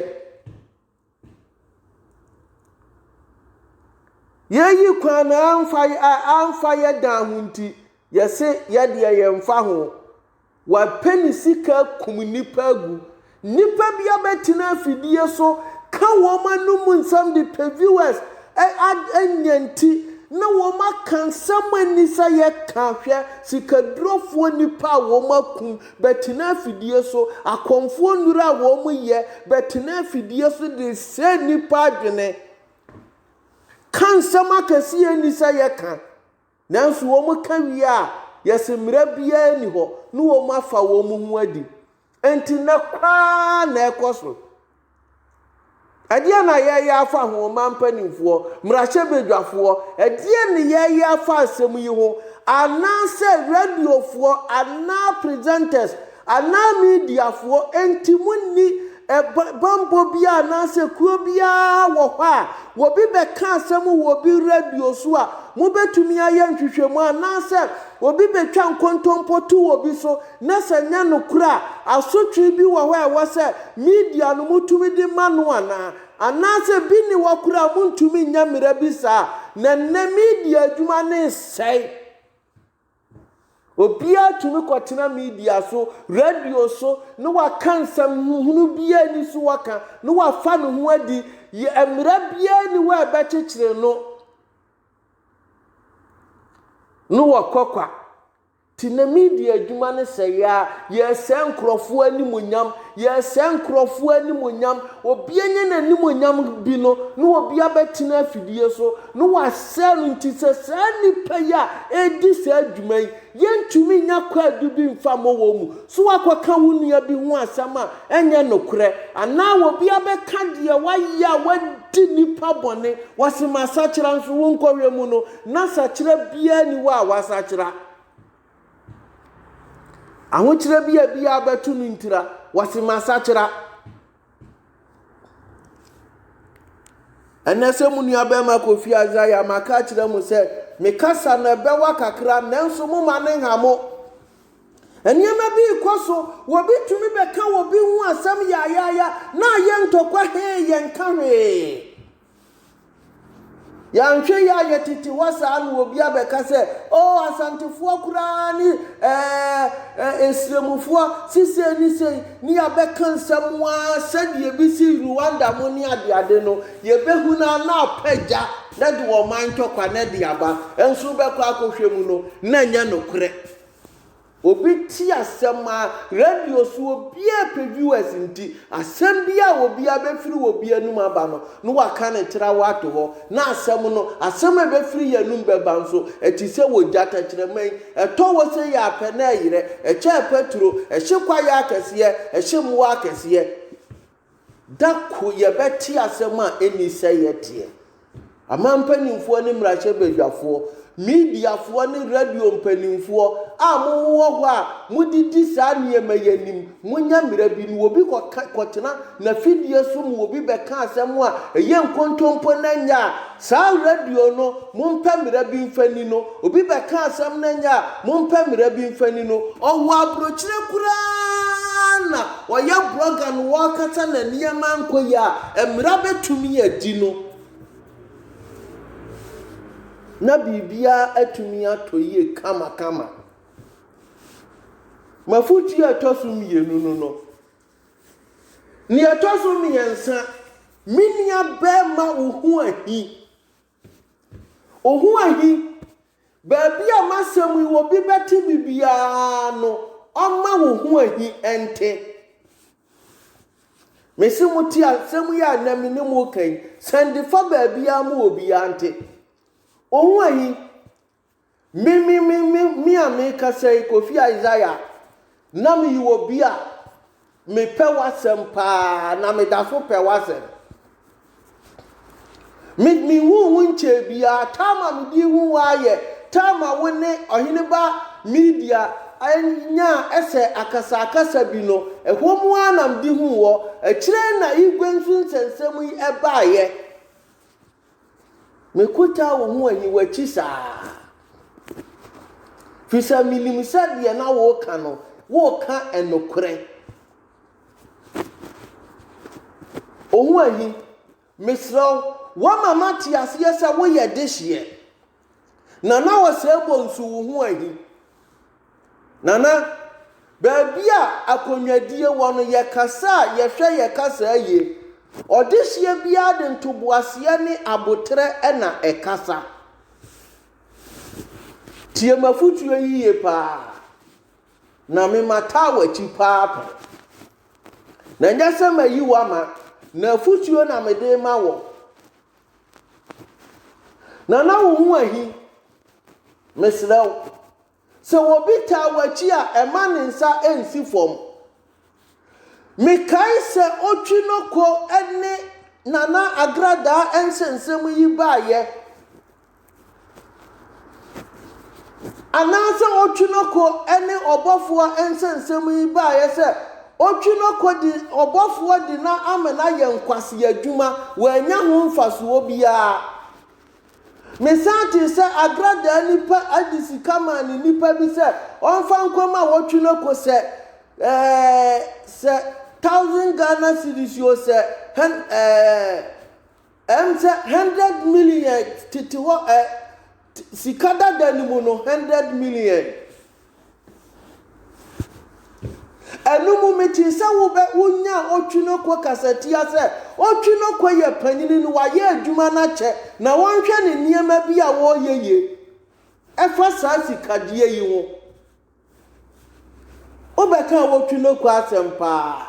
Yɛyi kwan no amfa a amfa yɛ dan ho nti, yɛse yɛ deɛ yɛmfa ho. Wapɛ ne sika akum nnipa agu. Nnipa bi abɛtena afidie so ka wɔn anom nsɛm de pɛ viewers ɛ ad anya nti na wɔn aka nsɛm a nni sɛ yɛka hwɛ sikadurofoɔ nnipa a wɔakum Bɛtena afidie so, Akɔmfoɔ nnuro a wɔn yɛ bɛtena afidie so de sɛe nnipa adwene. Ka nsɛm akɛse yɛ nni sɛ yɛ ka, nanso wɔn ka wie a yɛ se mmara biara nni hɔ ne wɔn afa wɔn ho adi. Enti nnɛ koraa na ɛkɔ so. Ɛdeɛn na yɛreyɛ afa ho, ɔman mpanimfoɔ, mmarahyɛbadwafoɔ? Ɛdeɛn na yɛreyɛ afa asɛm yi ho? Anaasɛ radiofoɔ anaa presenters anaa mediafoɔ nti monni bammɔ biara anaasɛ kuo biara wɔ hɔ a obi bɛka asɛm wɔ obi radio so a mobɛtumi ayɛ nhwehwɛmu anaasɛ obi bɛtwa nkontompo to obi so na sɛ ɛnyɛ nokorɛ a, asotwee bi wɔ hɔ a ɛwɔ sɛ media no motumi de ma no anaa? Anaasɛ bi nni hɔ koraa a montumi nyɛ mmara bi saa? Na nnɛ media adwuma no resɛe. Obiara tumi kɔtena media so, radio so, na waka nsɛm huhunu biara nni so waka, na wafa ne ho adi. Yɛ, mmara biara nni hɔ a ɛbɛkyekyere no, na wɔkɔ kwa. Nti na media adwuma no sɛe a, yɛresɛe nkurɔfoɔ animuonyam, yɛresɛe nkurɔfoɔ animuonyam, obi anya n'animuonyam bi no, na obi abɛtena afidie so, na wasɛe no, nti sɛ saa nnipa yi a ɛredi saa dwuma yi, yɛntumi nnya kwaadu bi mfa mmɔ wɔn mu, so woakɔka wo nua bi ho asɛm a ɛnyɛ nokorɛ, anaa obi abɛka deɛ wayɛ a wadi nnipa bɔne, wɔse masakyera nso, wonkɔhwɛ mu no, Ná sakyera biara nni hɔ a wɔasakyera. Ahokyerɛ bi a biara bɛto no ntira, wɔse masakyera. Ɛnɛ sɛ mo nua bɛrima Kofi Isaiah maka akyerɛ mo sɛ mekasa na ɛbɛwa kakra nanso mo ma ne nha mo. Nneɛma bi rekɔ so, wɔbi tumi bɛka wɔbi ho asɛm yaayaaya na ayɛ ntɔkwa hee yɛnka hwee. Yɛanhwɛ yie a yɛtete hɔ saa na obi abɛka sɛ, oh Asantefoɔ koraa ne ɛɛ eh, Nsiramufoɔ sisei ne sei ne yɛabɛka nsɛm a sɛdeɛ ebi sii Rwanda mo ne adeade no yɛbɛhu no na apɛ gya na de ɔman ntɔkwa na de aba nso wobɛkɔ akɔhwɛ mu no na ɛnyɛ nokorɛ. Obi te asɛm a radio so obia pɛ viewers nti asɛm bi a obia bɛfiri obi anum aba no na waka ne trawa ato hɔ na asɛm no asɛm a ɛbɛfiri yɛn anum bɛba nso ɛte sɛ wogya tɛkyerɛma yi ɛtɔ hɔ sei a pɛ na ɛyerɛ ɛkyɛ pɛturo ɛhye kwaeɛ akɛseɛ ɛhye mmoa akɛseɛ Da koro yɛbɛte asɛm a ɛnni sɛeɛ teɛ. Aman mpanimfoɔ ne mmarahyɛbadwafoɔ, mediafoɔ ne radio mpanimfoɔ a mowɔ hɔ a mode di saa nneɛma yi anim, monyɛ mmerɛ bi na obi kɔka, kɔtena n'afidie so ma obi bɛka asɛm a ɛyɛ nkontompo na ɛnyɛ a Saa radio no, mompɛ mmara bi mfa nni no. Obi bɛka asɛm no nyɛ a, mompɛ mmara bi mfa nni no. Ɔwɔ aburokyire koraa na ɔyɛ blogger na ɔrekasa na nneɛma ankɔ yie a, mmara bɛtumi adi no na biribiara atumi atɔ yie kamakama. M'afotuo a ɛtɔ so mmienu no no, Nea ɛtɔ so mmiɛnsa, me nua bɛrima wo ho ahi. Wo ho ahi. Baabi a m'asɛm yi wɔ bi bɛte bi biara no, ɔmma wo ho ahi nte. Mese mo te asɛm yi a na me ne mo ka yi, sɛndefa baabiara ma obiara nte. Wo ho ahi. Me, me, me, me, me a merekasa yi, Kofi Isaiah, na meyɛ obi a mepɛ w'asɛm paa na meda so pɛ w'asɛm. Me, me hu wo nkyɛn biara, tam a mede hu wo ara yɛ tam a wo ne ɔhene ba media anya ɛsɛ akasakasa bi no, ɛhɔ mu ara na mede hu wɔ, akyire na Igwe nso nsɛnsɛm yi ɛbaeɛ. Mekɔtaa wo ho aniwakyi saa, firi sɛ menim sɛ deɛ na woreka no, woreka nokorɛ. Ohuahi, mesrɛ wo, woama mate aseɛ sɛ woyɛ dehyeɛ. Nana Ɔsɛebɔ nso wo ho ahi. Nana, baabi a akonnwadie wɔ no yɛkasa a yɛhwɛ yɛ kasaa yie. Ɔdehyeɛ biara de ntoboaseɛ ne aboterɛ na ɛkasa. Tie m'afotuo yi yie paa na me mataa w'akyi paa pɛ. Na ɛnyɛ sɛ mayi wo ama, na afotuo na mede rema wɔ. Nana wo ho ahi. Mesrɛ wo. Sɛ obi taa w'akyi a ɛma ne nsa nsi fam. Mekae sɛ otwi no ko ne Nana Agradaa nsɛnsɛm yi baeɛ. Anaasɛ otwi no ko ne ɔbɔfoɔ nsɛnsɛm yi baeɛ sɛ, Otwi no ko de ɔbɔfoɔ de no amena yɛ nkwasea adwuma, wannya ho mfasoɔ biara. Mesan tee sɛ Agradaa nipa de sika maa ne nipa bi sɛ ɔmfa nkɔma Otwi no ko sɛ, eh, sɛ thousand Ghana cedis o, sɛ, hen, eh, Ɛm sɛ hundred million tete hɔ ɛ sika dada no mu no hundred million. Ɛno mu metee sɛ wobɛ wonya Otwinoko kasatia sɛ Otwinoko yɛ panyini no wayɛ adwuma no akyɛ na wɔnhwɛ ne nneɛma bi a wɔyɛ ye ɛfa saa sikadeɛ yi ho. Wobɛka a wotwi no kɔ asɛm paa.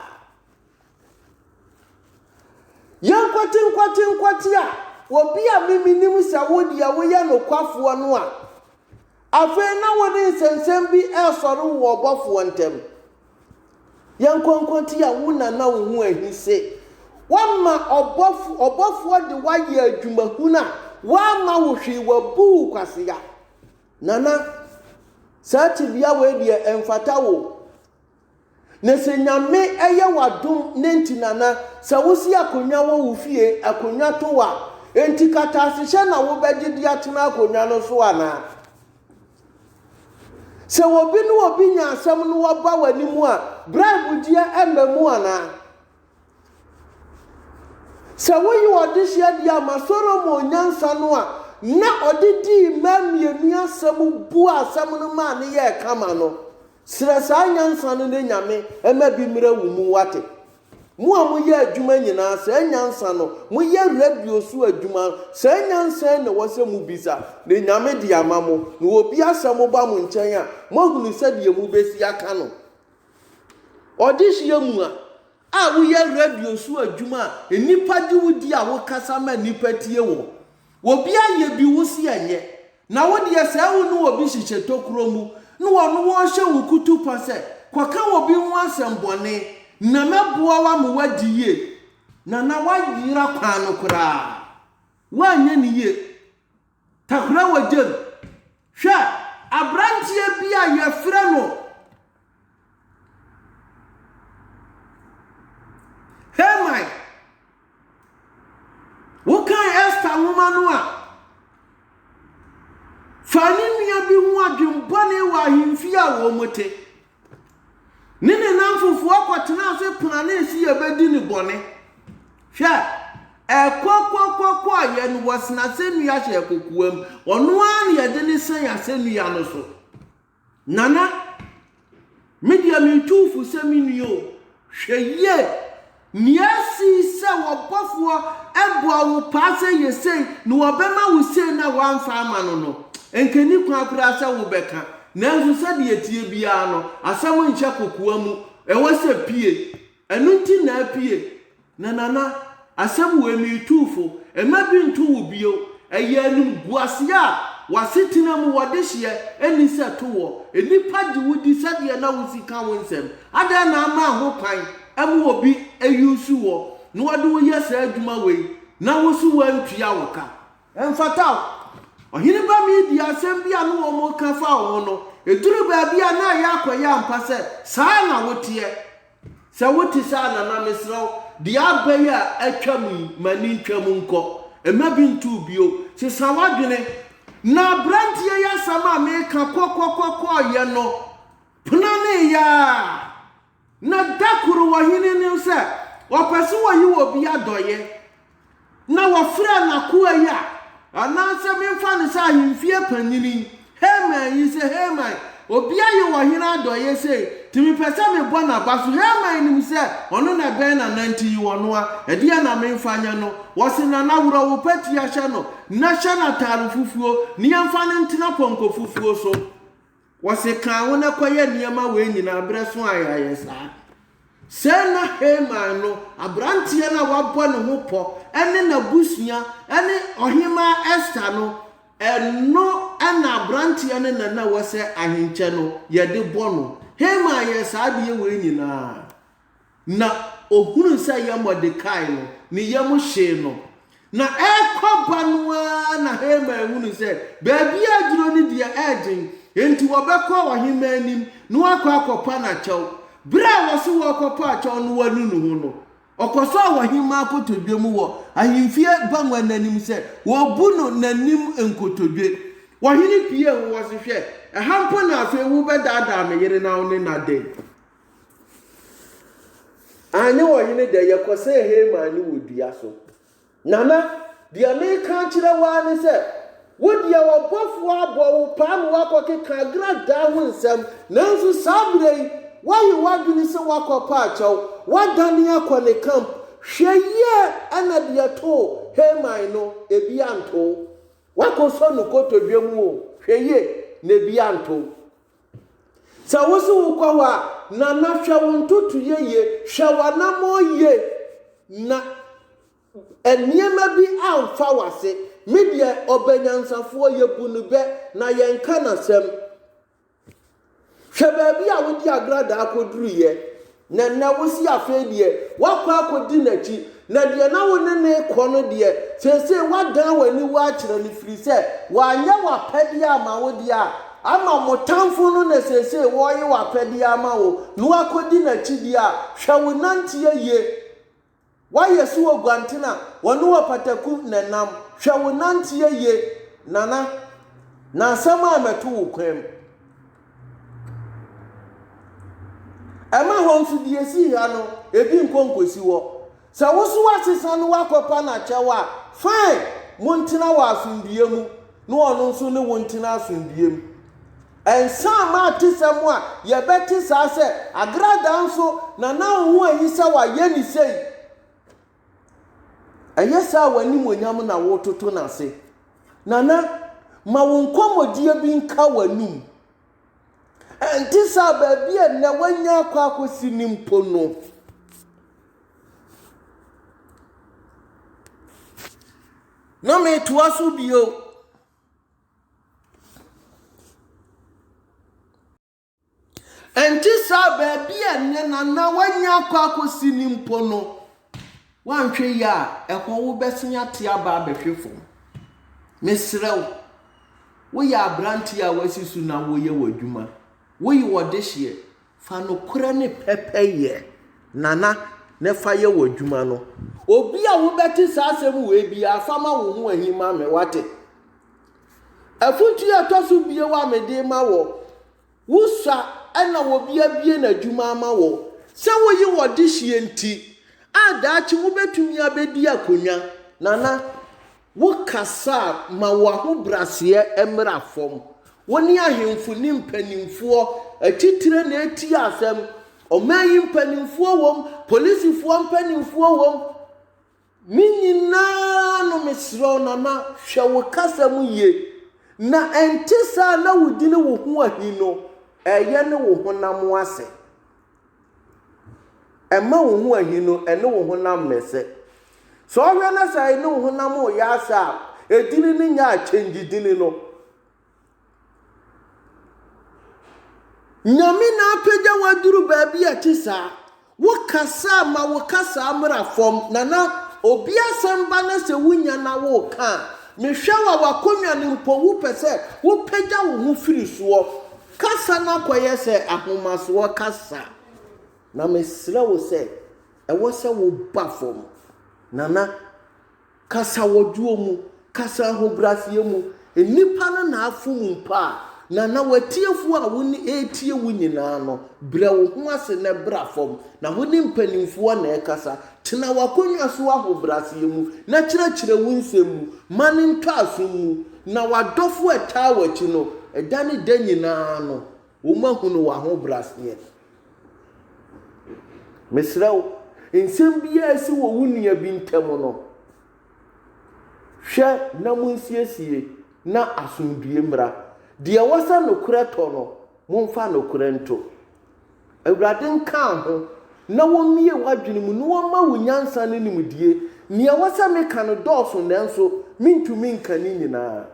Yɛ nkwati nkwati nkwati a obi a me menim sɛ wo deɛ woyɛ nokwafoɔ no a afei na wode nsɛnsɛm bi ɛresɔre wo ɔbɔfoɔ ntam. Yɛ nkwankwati a wo na na wo ho ahise. Wama ɔbɔfo ɔbɔfoɔ de wayɛ adwumahunu a wama wo hwee wabu wo kwasea. Nana, saa tebea wei deɛ ɛmfata wo. Na sɛ Nyame ɛyɛ w'adom ne nti Nana, sɛ wosi akonnwa wɔ wo fie, akonnwa to wo a, enti kataasehyɛ na wobɛgye de atena akonnwa no so anaa? Sɛ obi ne obi nya asɛm na waba w'anim a, bribe gyeɛ ɛmma mu anaa? Sɛ woyi ɔdehyeɛ deɛ a ma Solomon nyansa no a na ɔde dii mmaa mmienu asɛm buaa asɛm no maa no yɛɛ kama no, srɛ saa nyansa no na Nyame mma bi mmra wo mu, woate? Mo a moyɛ adwuma nyinaa, saa nyansa no, moyɛ radio so adwuma no, saa nyansa yi na ɛwɔ sɛ mobisa, na Nyame de ama mo. Na obi asɛm ba mo nkyɛn a, moahunu sɛdeɛ mobɛsi aka no. Ɔdehyeɛ mu a, a woyɛ radio so adwuma a nnipa gye wo di a wokasa ma nnipa tie wo, obi ayɛ bi wo se ɛnyɛ, na wo deɛ sɛɛ wo ne obi hyehyɛ tokuro mu na ɔno ɔrehyɛ wo kutupa sɛ kɔka obi ho asɛm bɔne na mɛboa wo ama woadi yie na na woayera kwan no koraa woanyɛ no yie. Takora wɔ gyam. Hwɛ abranteɛ bi a yɛfrɛ no Haman. Wokan Esther nwoma no a, fa ne nua bi ho adwembɔne wɔ ahemfie a wɔte. Ne ne nnamfofoɔ kɔtenaa ase planee sɛ yɛbɛdi no bɔne. Hwɛ, ɛkɔkɔkɔkɔeɛ no, wɔsen asɛnnua hyɛɛ kokoam. Ɔno ara na yɛde no sɛn asɛnnua no so. Nana, me deɛ metu wo fo sɛ me nua o, hwɛ yie. Nea asi sɛ wɔbɔfoɔ bɔɔ wo paa sɛ yɛ sei na wɔbɛma wo sei na woamfa amma no no, anka ɛnni kwan koraa sɛ wobɛka. Nanso sɛdeɛ ɛteɛ biara no, asɛm nhyɛ kokoa mu, ɛwɔ sɛ pue. Ɛno nti na apue. Na Nana, asɛm wei meretuu fo, mma bi nto wo bio. Ɛyɛ animguaseɛ a w'asetena mu wɔdehyeɛ nni sɛ to woɔ. Nnipa gye wo di sɛdeɛ na wo sika wo nsam. Adɛn na ama ho kwan ma obi ayusu wo na ɔde wo yɛ saa adwuma wei na wo nso woantua wo ka? Ɛmfata wo. Ɔhene ba Media asɛm bi a na wɔreka fa wo ho no, ɛduruu baabi a na ɛyɛ akɔyɛ ampa sɛ saa na woteɛ. Sɛ wote saa a, nana, mesrɛ wo, deɛ aba yi a atwam yi, ma ani ntwam nkɔ. Mma bi nto wo bio. Sesa w'adwene. Na aberanteɛ yi asɛm a mereka kɔkɔkɔkɔɔyɛ no, Penaneeɛ ara, na da koro ɔhene no sɛ ɔpɛ sɛ ɔyi wɔ bi adɔeɛ, na wɔfrɛɛ n'akoa yi a anaasɛ memfa no sɛ ahemfie panyini, Haman yi sɛ, Haman, obi ayi wɔ hene adɔeɛ sei, nti mepɛ sɛ mebɔ n'aba so. Haman nim sɛ ɔno na ɛbɛn Nana nti yi wɔ no a, ɛdeɛn na memfa nyɛ no? Ɔse, Nana, worɔ wo patia hyɛ no, na hyɛ no ataare fufuo, na yɛmfa no ntena pɔnkɔ fufuo so. Wɔse kaa wo na kɔyɛ nneɛma wei nyinaa berɛ so a yɛayɛ saa. Sɛɛ na Haman no, aberanteɛ no a wabɔ ne ho pɔ, ne n'abusua, ne Ɔhemmaa Ester no, ɛno na aberanteɛ no na na ɛwɔ sɛ ahenkyɛ no, yɛde bɔ no. Haman yɛɛ saa adeɛ wei nyinaa. na ɔhunuu sɛ ɛyɛ Mordekai no, ne yam hyee no. Na ɛrekɔba no ara na Haman hunuu sɛ baabi a aduro no deɛ ɛyɛ den, enti wɔbɛkɔ ɔhemmaa anim na wɔakɔ akɔpa no akyɛw. Berɛ a wɔse wɔrekɔpa akyɛw no wɔanu ne ho no, ɔkɔsɔɔ ɔhemmaa nkotodwe mu wɔ ahemfie bagua no anim sɛ wɔrebu no n'anim nkotodwe. Ɔhene piee ho wɔ se, Hwɛ! Ɛha mpo na afei wobɛdaadaa me yere na wo ne no adɛn? Anyɛ ɔhene dɛ, yɛkɔsɛɛ Haman no wɔ dua so. Nana, deɛ mereka akyerɛ wo ara ne sɛ, wo deɛ ɔbɔfoɔ abɔ wo paa ma woakɔkeka agradaa ho nsɛm, nanso saa berɛ yi, woayɛ w'adwene sɛ woakɔpa akyɛw, woadane akɔ ne camp. Hwɛ yie na deɛ ɛtoo Haman no, ebi anto wo. Woakɔsɔ no kotodwe mu o, hwɛ yie na ebi anto wo. Sɛ wo so wokɔ hɔ a, Nana hwɛ wo ntotoeɛ yie, hwɛ w'anammɔn yie na nneɛma bi amfa w'ase. Me deɛ ɔbɛ nyansafoɔ, yɛbu no bɛ na yɛnka n'asɛm. Hwɛ baabi a wode agradaa kɔduruiɛ, Na nnɛ wo se afei deɛ woakɔ akɔdi n'akyi, na deɛ na wo ne no rekɔ no deɛ, seesei woadan w'aniwa akyerɛ no, ɛfiri sɛ wanyɛ w'apɛdeɛ amma wo deɛ a, ama mo tamfo no na seesei ɔreyɛ w'apɛdeɛ ama wo, na woakɔdi n'akyi deɛ a, hwɛ wo nanteɛ yie. Wayɛ so oguanten a wɔne wo apataku nenam. Hwɛ wo nanteɛ yie, Nana, na asɛm a mɛto wo kwan mu. Ɛma hɔ nso deɛ ɛsi ha no, ebi nkɔ nkɔsi hɔ. Sɛ wo so woasesa no woakɔpa no akyɛw a, fine, montena wɔ asomdwoeɛ mu na ɔno nso ne wo ntena asomdwoeɛ mu. Ɛnsa amma atesɛm a yɛbɛte saa sɛ, Agradaa nso na na wo ho ahi sɛ wɔayɛ no sei. Ɛnyɛ saa a w'animuonyam na woretoto no ase. Nana, ma wo nkɔmmɔdie bi nka w'anom. Ɛnte saa baabi a nnɛ woanya akɔ akɔsi no mpo no. Na metoa so bio. Ɛnte saa, baabi a ɛnnɛ na na woanya akɔ akɔsi no mpo no, woanhwɛ yie a, ɛhɔ wobɛsen ate aba abɛhwe fam. Mesrɛ wo, woyɛ aberanteɛ a woasi so na woreyɛ w'adwuma, woyɛ ɔdehyeɛ, Fa nokorɛ ne pɛpɛyɛ na na na fa yɛ w'adwuma no. Obi a wobɛte saa asɛm wei biara, fa ma wo ho ahi ma me, wate? Afotuo a ɛtɔ so bio a mede ma wɔ, wo sua na obi abue n'adwuma ama wɔ, sɛ woye wɔ dehyeɛ nti a daakye wobɛtumi abɛdi akonnwa, Nana. Wo kasa a, ma wo ahobraseɛ mmra fam. Wo ne ahemfo ne mpanimfoɔ atitire na ɛretie asɛm. Ɔman yi mpanimfoɔ wɔ mu, polisifoɔ mpanimfoɔ wɔ mu. Ne nyinaa no mesrɛ wo Nana, hwɛ wo kasa mu yie. Na ɛnte saa na wodini wo ho ahi no, ɛyɛ ne wo honam ase. Ɛmma wo ho ahi no ne wo honam mmɛsɛ. Sɛ ɔhwɛ na sɛ ne wo honam reyɛ asɛ a, edini no nyɛ a, change dini no. Nyame na apagya wo aduru baabi a ɛte saa. Wo kasa a, ma wo kasa mmra fam, na na obi asɛm ba na sɛ wonya na woreka a, mehwɛ wo a, w'akonnwa no mpo, wopɛ sɛ wopagya wo ho firi soɔ. Kasa no akɔyɛ sɛ ahomasoɔ kasa, na mesrɛ wo sɛ ɛwɔ sɛ woba fam. Nana, kasa wɔ dwoɔ mu, kasa ahobrɛaseɛ mu. Nnipa no na afom mpo a, Nana, w'atiefoɔ a wɔretie wo nyinaa no, brɛ wo ho ase na bra fam. Na wo ne mpanimfoɔ na ɛkasa, Tena w'akonnwa so ahobrɛaseɛ mu na kyerɛkyerɛ wo nsɛm mu ma no ntɔ asom mu, na w'adɔfoɔ a ɛtaa w'akyi no, ɛda ne da nyina ara no, wɔahunu w'ahobrɛaseɛ. Mesrɛ wo, nsɛm biara a asi wɔ wo nua bi ntam no, hwɛ na monsiesie na asomdwoeɛ mmra. Deɛ wɔsa nokorɛ tɔ no, momfa nokorɛ nto. Awurade nkaa ho, na wɔmmue w'adwene mu, na wɔmma wo nyansa ne nimdeɛ. Nea ɛwɔ sɛ meka no dɔɔso, nanso mentumi nka ne nyinaa.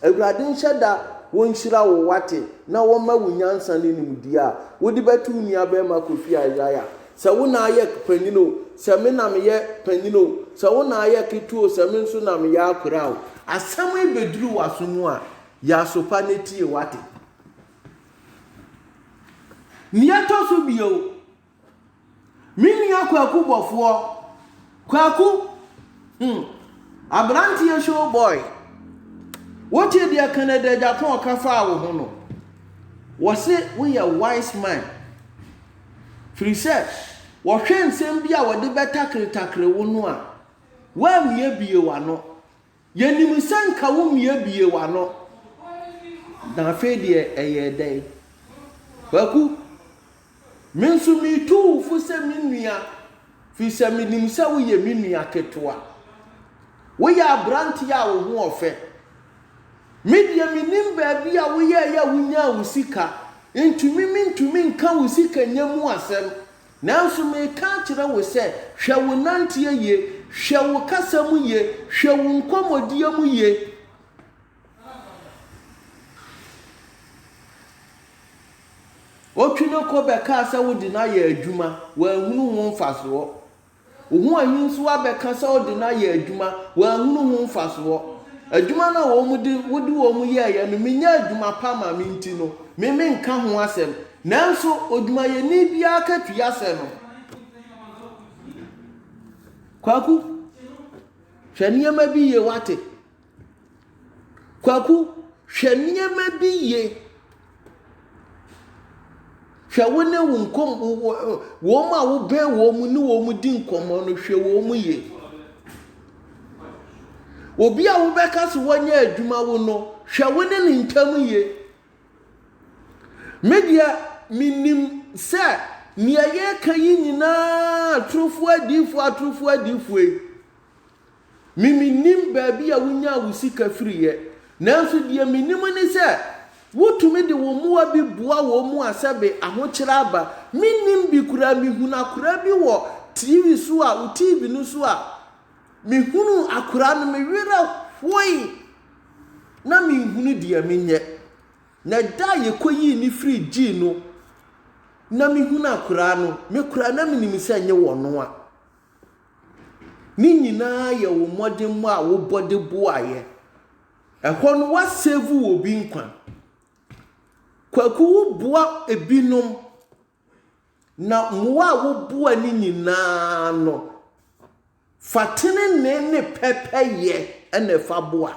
Awurade nhyɛ da wɔnhyira wo, woate, na wɔmma wo nyansa ne nimdeɛ a wode bɛto wo nuabarima Kofi Isaiah. Sɛ wo na ayɛ panyin o, sɛ me na meyɛ panyin o, sɛ wo na ayɛ ketewa o, sɛ me nso na meyɛ akoraa o, asɛm yi bɛduru w'aso mu a, yɛ aso pa na tie, woate. Nea ɛtɔ so bio, me nua Kwaku Bɔfoɔ, Kwaku, hmm, aberanteɛ show boy, wote deɛ Kennedy Agyapong ɔka faa wo ho no, wɔse woyɛ wise man, firi sɛ wɔhwɛ nsɛm bi a wɔde bɛtakretakre wo no a, woammue bie w'ano. Yɛnim sɛ nka wo mmea bue w'ano, na afei deɛ ɛyɛɛ dɛn? Kwaku, Me nso metu wo fo sɛ me nua, firi sɛ menim sɛ woyɛ me nua ketewa. Woyɛ aberanteɛ a wo ho ɔfɛ. Me deɛ menim baabi a woyɛeɛ a wonyaa wo sika, ntumi mentumi nka wo sikanya mu asɛm, Nanso mereka akyerɛ wo sɛ, hwɛ wo nanteɛ yie, hwɛ wo kasa mu yie, hwɛ wo nkɔmmɔdie mu yie. Ɔtwi no kɔ bɛkaa sɛ wode no ayɛ adwuma, wanhunu ho mfasoɔ. Ohuu anwonsuo abɛka sɛ ɔde no ayɛ adwuma, wanhunu ho mfasoɔ. Adwuma no a wɔn de wode wɔn yɛeɛ no, menyaa adwuma pa ma me nti no, me menka ho asɛm. Nanso odwumayɛni biara akatua sɛ no. Kwaku, hwɛ nneɛma bi yie, woate? Kwaku, hwɛ nneɛma bi yie. Hwɛ wo ne wo nkɔm wɔn a wobɛn wɔn ne wɔn di nkɔmmɔ no, hwɛ wɔn yie. Obi a wobɛka so wɔnyɛ adwuma wo no, hwɛ wo ne ne ntam yie. Me deɛ, menim sɛ nea yɛreka yi nyinaa atorofoɔ adiyifoɔ atorofoɔ adiyifoɔ yi. Me mennim baabi a wonyaa wo sika firiiɛ, nanso deɛ menim ne sɛ, wotumi de wo mmoa bi boa wɔn mu a sɛbe ahokyerɛ aba. Mennim bi koraa, mehunu akoraa bi wɔ TV so a, wo TV no so a, mehunuu akoraa no, me werɛ hoe na menhunu deɛ menyɛ. Na da a yɛkɔyii no firii gyii no na mehunu akoraa no, me koraa na menim sɛ nyɛ wɔn a. Ne nyinaa yɛ wo mmɔdemmɔ a wobɔ de boaeɛ. Ɛhɔ no woasave obi nkwa. Kwaku woboa ebinom na mmoa a woboa no nyinaa no, fa tenenee ne pɛpɛyɛ na ɛfa boa.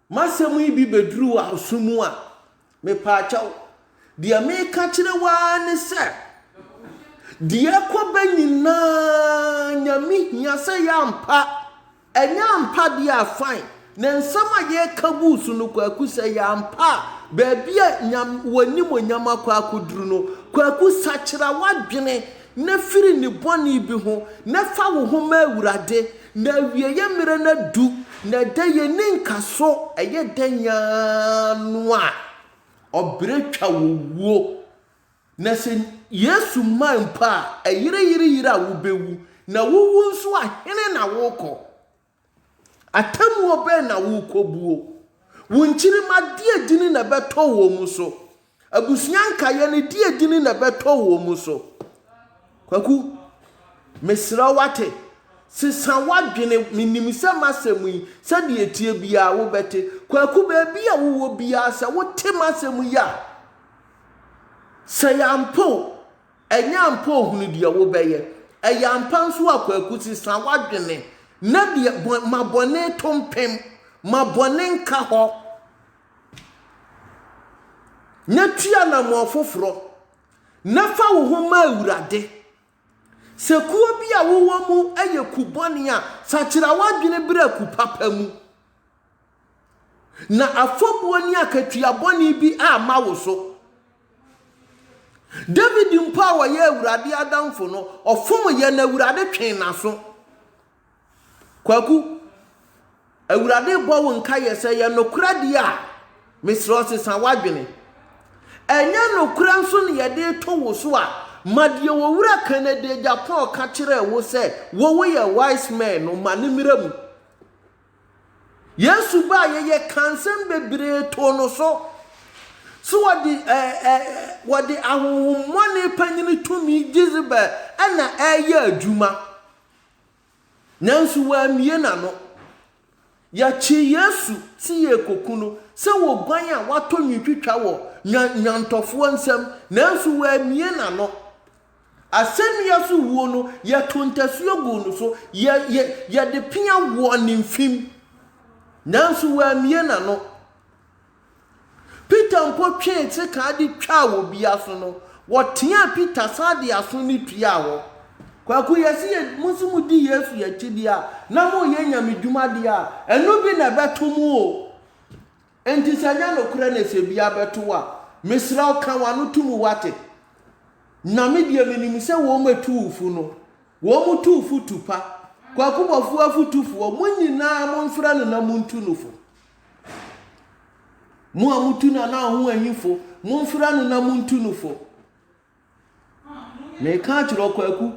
M'asɛm yi bi bɛduru w'aso mu a, mepaakyɛw, deɛ meka kyerɛ wo ara ne sɛ, deɛ ɛkɔ bɛ nyinaa Nyame hia sɛ ɛyɛ ampa, ɛnyɛ ampa deɛ a fine, na nsɛm a yɛreka gu so no Kwaku sɛ ɛyɛ ampa a, baabi a Nyame, w'animuonyam akɔ akɔduru no, Kwaku sakyera w'adwene, na firi ne bɔne bi ho, na fa wo ho ma Awurade, na awieɛ mmerɛ no adu, na ɛda yi ɛnni nkaso, ɛyɛ da nyaa no a ɔbrɛ twa wɔ wuo, na sɛ Yesu mmae mpo a, ɛyereyereyere a wobɛwu, na wowu nso a, hene na worekɔ? Atemmuo bɛn na worekɔbuo? Wo nkyirimma deɛ dini na ɛbɛtɔ wɔn mu so? Abusua nkaeɛ no deɛ dini na ɛbɛtɔ wɔn mu so? Kwaku, mesrɛ wate, sesa w'adwene, menim sɛ m'asɛm yi, sɛdeɛ ɛteɛ biara wobɛte. Kwaku, baabi a wowɔ biara sɛ wote m'asɛm yi a, sɛ yɛampɛ o, Ɛnyɛ ampa ohunu deɛ wobɛyɛ. Ɛyɛ ampa nso a kwaku se sa w'adwene na deɛ bɔ ma bɔne to mpem ma bɔne nka hɔ na tu anammɔn foforɔ na fa wo ho ma Awurade. Sɛ kuo bi a wowɔ mu yɛ ku bɔne a, sakyera w'adwene bra ku papa mu. Na afɔbuo ne akatua bɔne bi amma wo so. David mpo a ɔyɛ Awurade adamfo no, ɔfom yɛ na Awurade twee n'aso. Kwaku, Awurade bɔ wo nka yɛ sɛ yɛ nokorɛ deɛ a, mesrɛ wo sesa w'adwene. Ɛnyɛ nokorɛ nso na yɛde to wo so a, ma deɛ Owura Kennedy Agyapong ka kyerɛɛ wo sɛ wo woyɛ wise man no, ma no mmra mu. Yesu baeɛ yɛ ka nsɛm bebree too no so sɛ wɔde ɛɛ ɛɛ wɔde ahonhommɔne panyin tumi Jezebel na ɛreyɛ adwuma. Nanso wammue n'ano. Yɛkyee Yesu sɛ yɛrekoku no sɛ oguan a watɔ nwitwitwa wɔ nnwan nnwantɔfoɔ nsam, nanso wammue n'ano. Asɛnnua so wuo no, yɛtoo ntasuo guu no so, yɛ, yɛ, yɛde pea wɔɔ ne mfem. Nanso wammue n'ano. Peter mpo twee sekaa de twaa wɔ bi aso no, wɔteaa Peter san de aso no tuaa hɔ. Kwaku, yɛse yɛ, mo se mo di Yesu akyi deɛ a, na moreyɛ nyamedwuma deɛ a, ɛno bi na ɛbɛto mo o. Enti sɛ ɛnyɛ nokorɛ na sɛ bi abɛto wo a, mesrɛ wo ka w'ano to mu wate. Na me deɛ menim sɛ wɔn a ɛtu wo fo no, wɔn tu wo fo tu pa. Kwaku Boafo afotufoɔ, mo nyinaa momfrɛ no na montu no fo. Mo a motu Nana Ahoahimfo, momfrɛ no na montu no fo. Meka akyerɛ wo, Kwaku,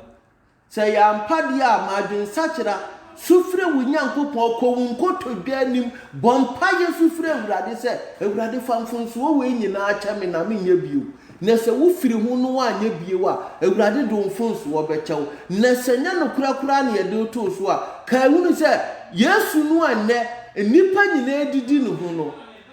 sɛ ɛyɛ ampa deɛ a, ma adwensakyera, su frɛ wo Nyankopɔn, kɔ wo nkotodwe anim, bɔ mpaeɛ su frɛ Awurade sɛ, Awurade fa mfomsoɔ wei nyinaa kyɛ me na menyɛ bio. Na sɛ wofiri ho na woanyɛ bio a, Awurade de wo mfomsoɔ bɛkyɛ wo. Na sɛ ɛnyɛ nokorɛ koraa na yɛde wo too so a, kae hunu sɛ Yesu no a nnɛ nnipa nyinaa didi ne ho no,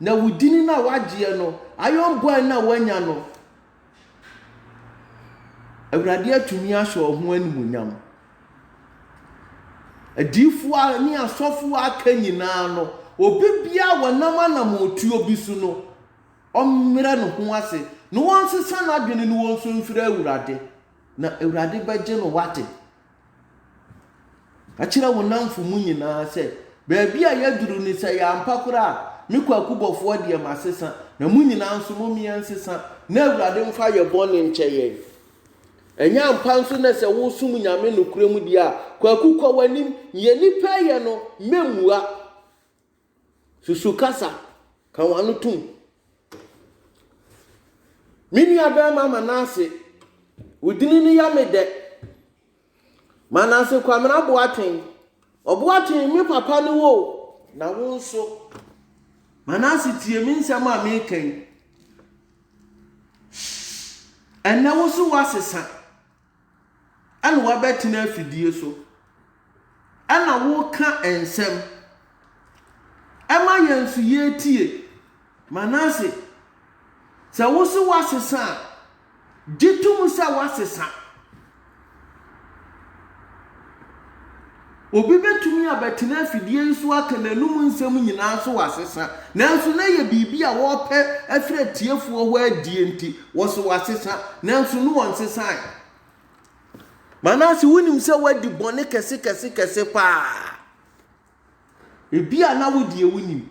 Na wo dini no a w'agyeɛ no, iron bɔɛ no a w'anya no, Awurade atumi ahyɛ ɔho animuonyam. Adiifoɔ ne asɔfoɔ a aka nyinaa no, obi biara wɔnam anamɔtuo bi so no, ɔmmerɛ ne ho ase, na wɔnsesa n'adwene no wɔnsu mfrɛ Awurade, na Awurade bɛgye no wate. Ka kyerɛ wo nnamfo mu nyinaa sɛ, 'Baabi a yɛaduru ni, sɛ ɛyɛ ampa koraa a, me Kwaku Bɔfoɔ deɛ, masesa, na mo nyinaa nso, mom yɛnsesa, na Awurade mfa yɛn bɔne nkyɛ yɛn. Ɛnyɛ ampa nso na sɛ woresom Nyame nokorɛm deɛ a, Kwaku, kɔ w'anim, nea nnipa reyɛ no, mɛmmua. Susu kasa, ka w'ano tom. Me nua bɛɛma Manase, wo dini no yɛ me dɛ. Manase Kwamena Boateng, Ɔboateng me papa ne wo o, na wo nso. Manase tie me nsɛm a meka yi. Ɛnnɛ wo so woasesa. ɛna wabɛtena afidie so, ɛna woreka nsɛm. Ɛma yɛn nso yɛtie. Manase, sɛ wo se woasesa a, gye tom sɛ woasesa. Obi betumi abɛtena afidie yi so aka n'anom nsɛm nyinaa so wasesa, nanso na ɛyɛ biribi a wɔrepɛ afiri atiefoɔ hɔ adie nti, wɔse wasesa, nanso na ɔnsesaeɛ. Manase, wonim sɛ woadi bɔne kɛsekɛsekɛse paa. Ebia na wo deɛ wonim,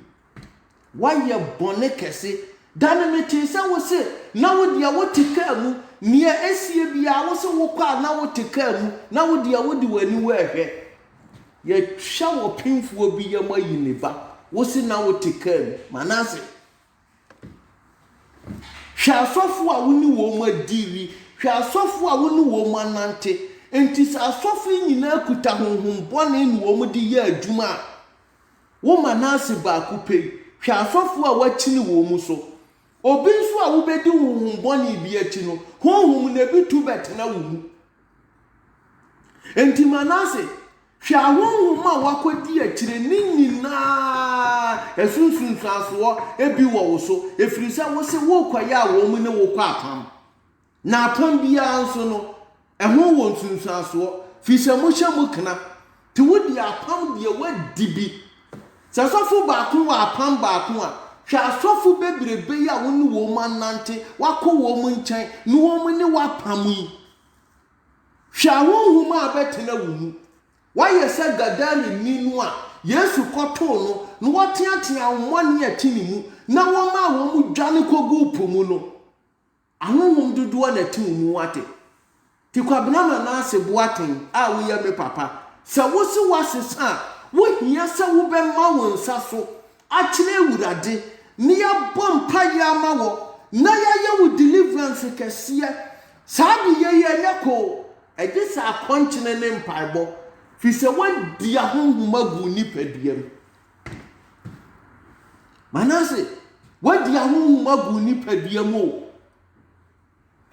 Woayɛ bɔne kɛse. Da no metee sɛ wose, na wo deɛ wote kaa mu, nea ɛsie biara wose wokɔ a na wote kaa mu, na wo deɛ wode w'aniwa rehwɛ. Yɛatwa wɔ pemfoɔ bi yam ayi ne ba, wose na wote kaa mu. Manase, hwɛ asɔfoɔ a wo ne wɔn adiili, hwɛ asɔfoɔ a wo ne wɔn anante. Enti sɛ asɔfo yi nyinaa kuta honhom bɔne na wɔde yɛ adwuma a, Wo Manase baako pɛ yi, hwɛ asɔfoɔ a woakyini wɔn mu so. Obi nso a wobɛdi honhom bɔne bi akyi no, honhom no ebi tu bɛtena wo mu. Enti Manase, hwɛ ahonhom a woakɔdi akyire ne nyinaa, ɛso nsunsuansoɔ bi wɔ wo so, ɛfiri sɛ wose worekɔyɛ a wɔn ne wo kɔ apam. Na apon biara nso no, ɛho wɔ nsunsuansoɔ, firi sɛ mohyɛ mu kena, te wodi apam deɛ woadi bi. Sɛ asɔfo baako wɔ apam baako a, hwɛ asɔfo bebrebe yi a wo ne wɔn anante, woakɔ wɔn nkyɛn, ne wɔn ne wo apam yi. Hwɛ ahonhom a abɛtena wo mu. Woayɛ sɛ Gadareni no a Yesu kɔtoo no na wɔteatea ahonhommɔne a ɛte ne mu na wɔmaa wɔn dwane kɔguu po mu no. Ahonhom dodoɔ na te wo mu wate. Te kwabena manaase boaten a wo yɛ me papa sɛ wo se wa sesa a wo hia sɛ wo bɛ ma wo nsa so akyerɛ awurade ne ya bɔ mpa yɛ ama wɔ na ya yɛ wo deliverance kɛseɛ saa de yɛ yi ɛnyɛ koo ɛgye sɛ akɔnkyene ne mpaebɔ firi sɛ wa di ahonhom agu wo nipadua mu Manase, woadi ahonhom agu wo nipadua mu o.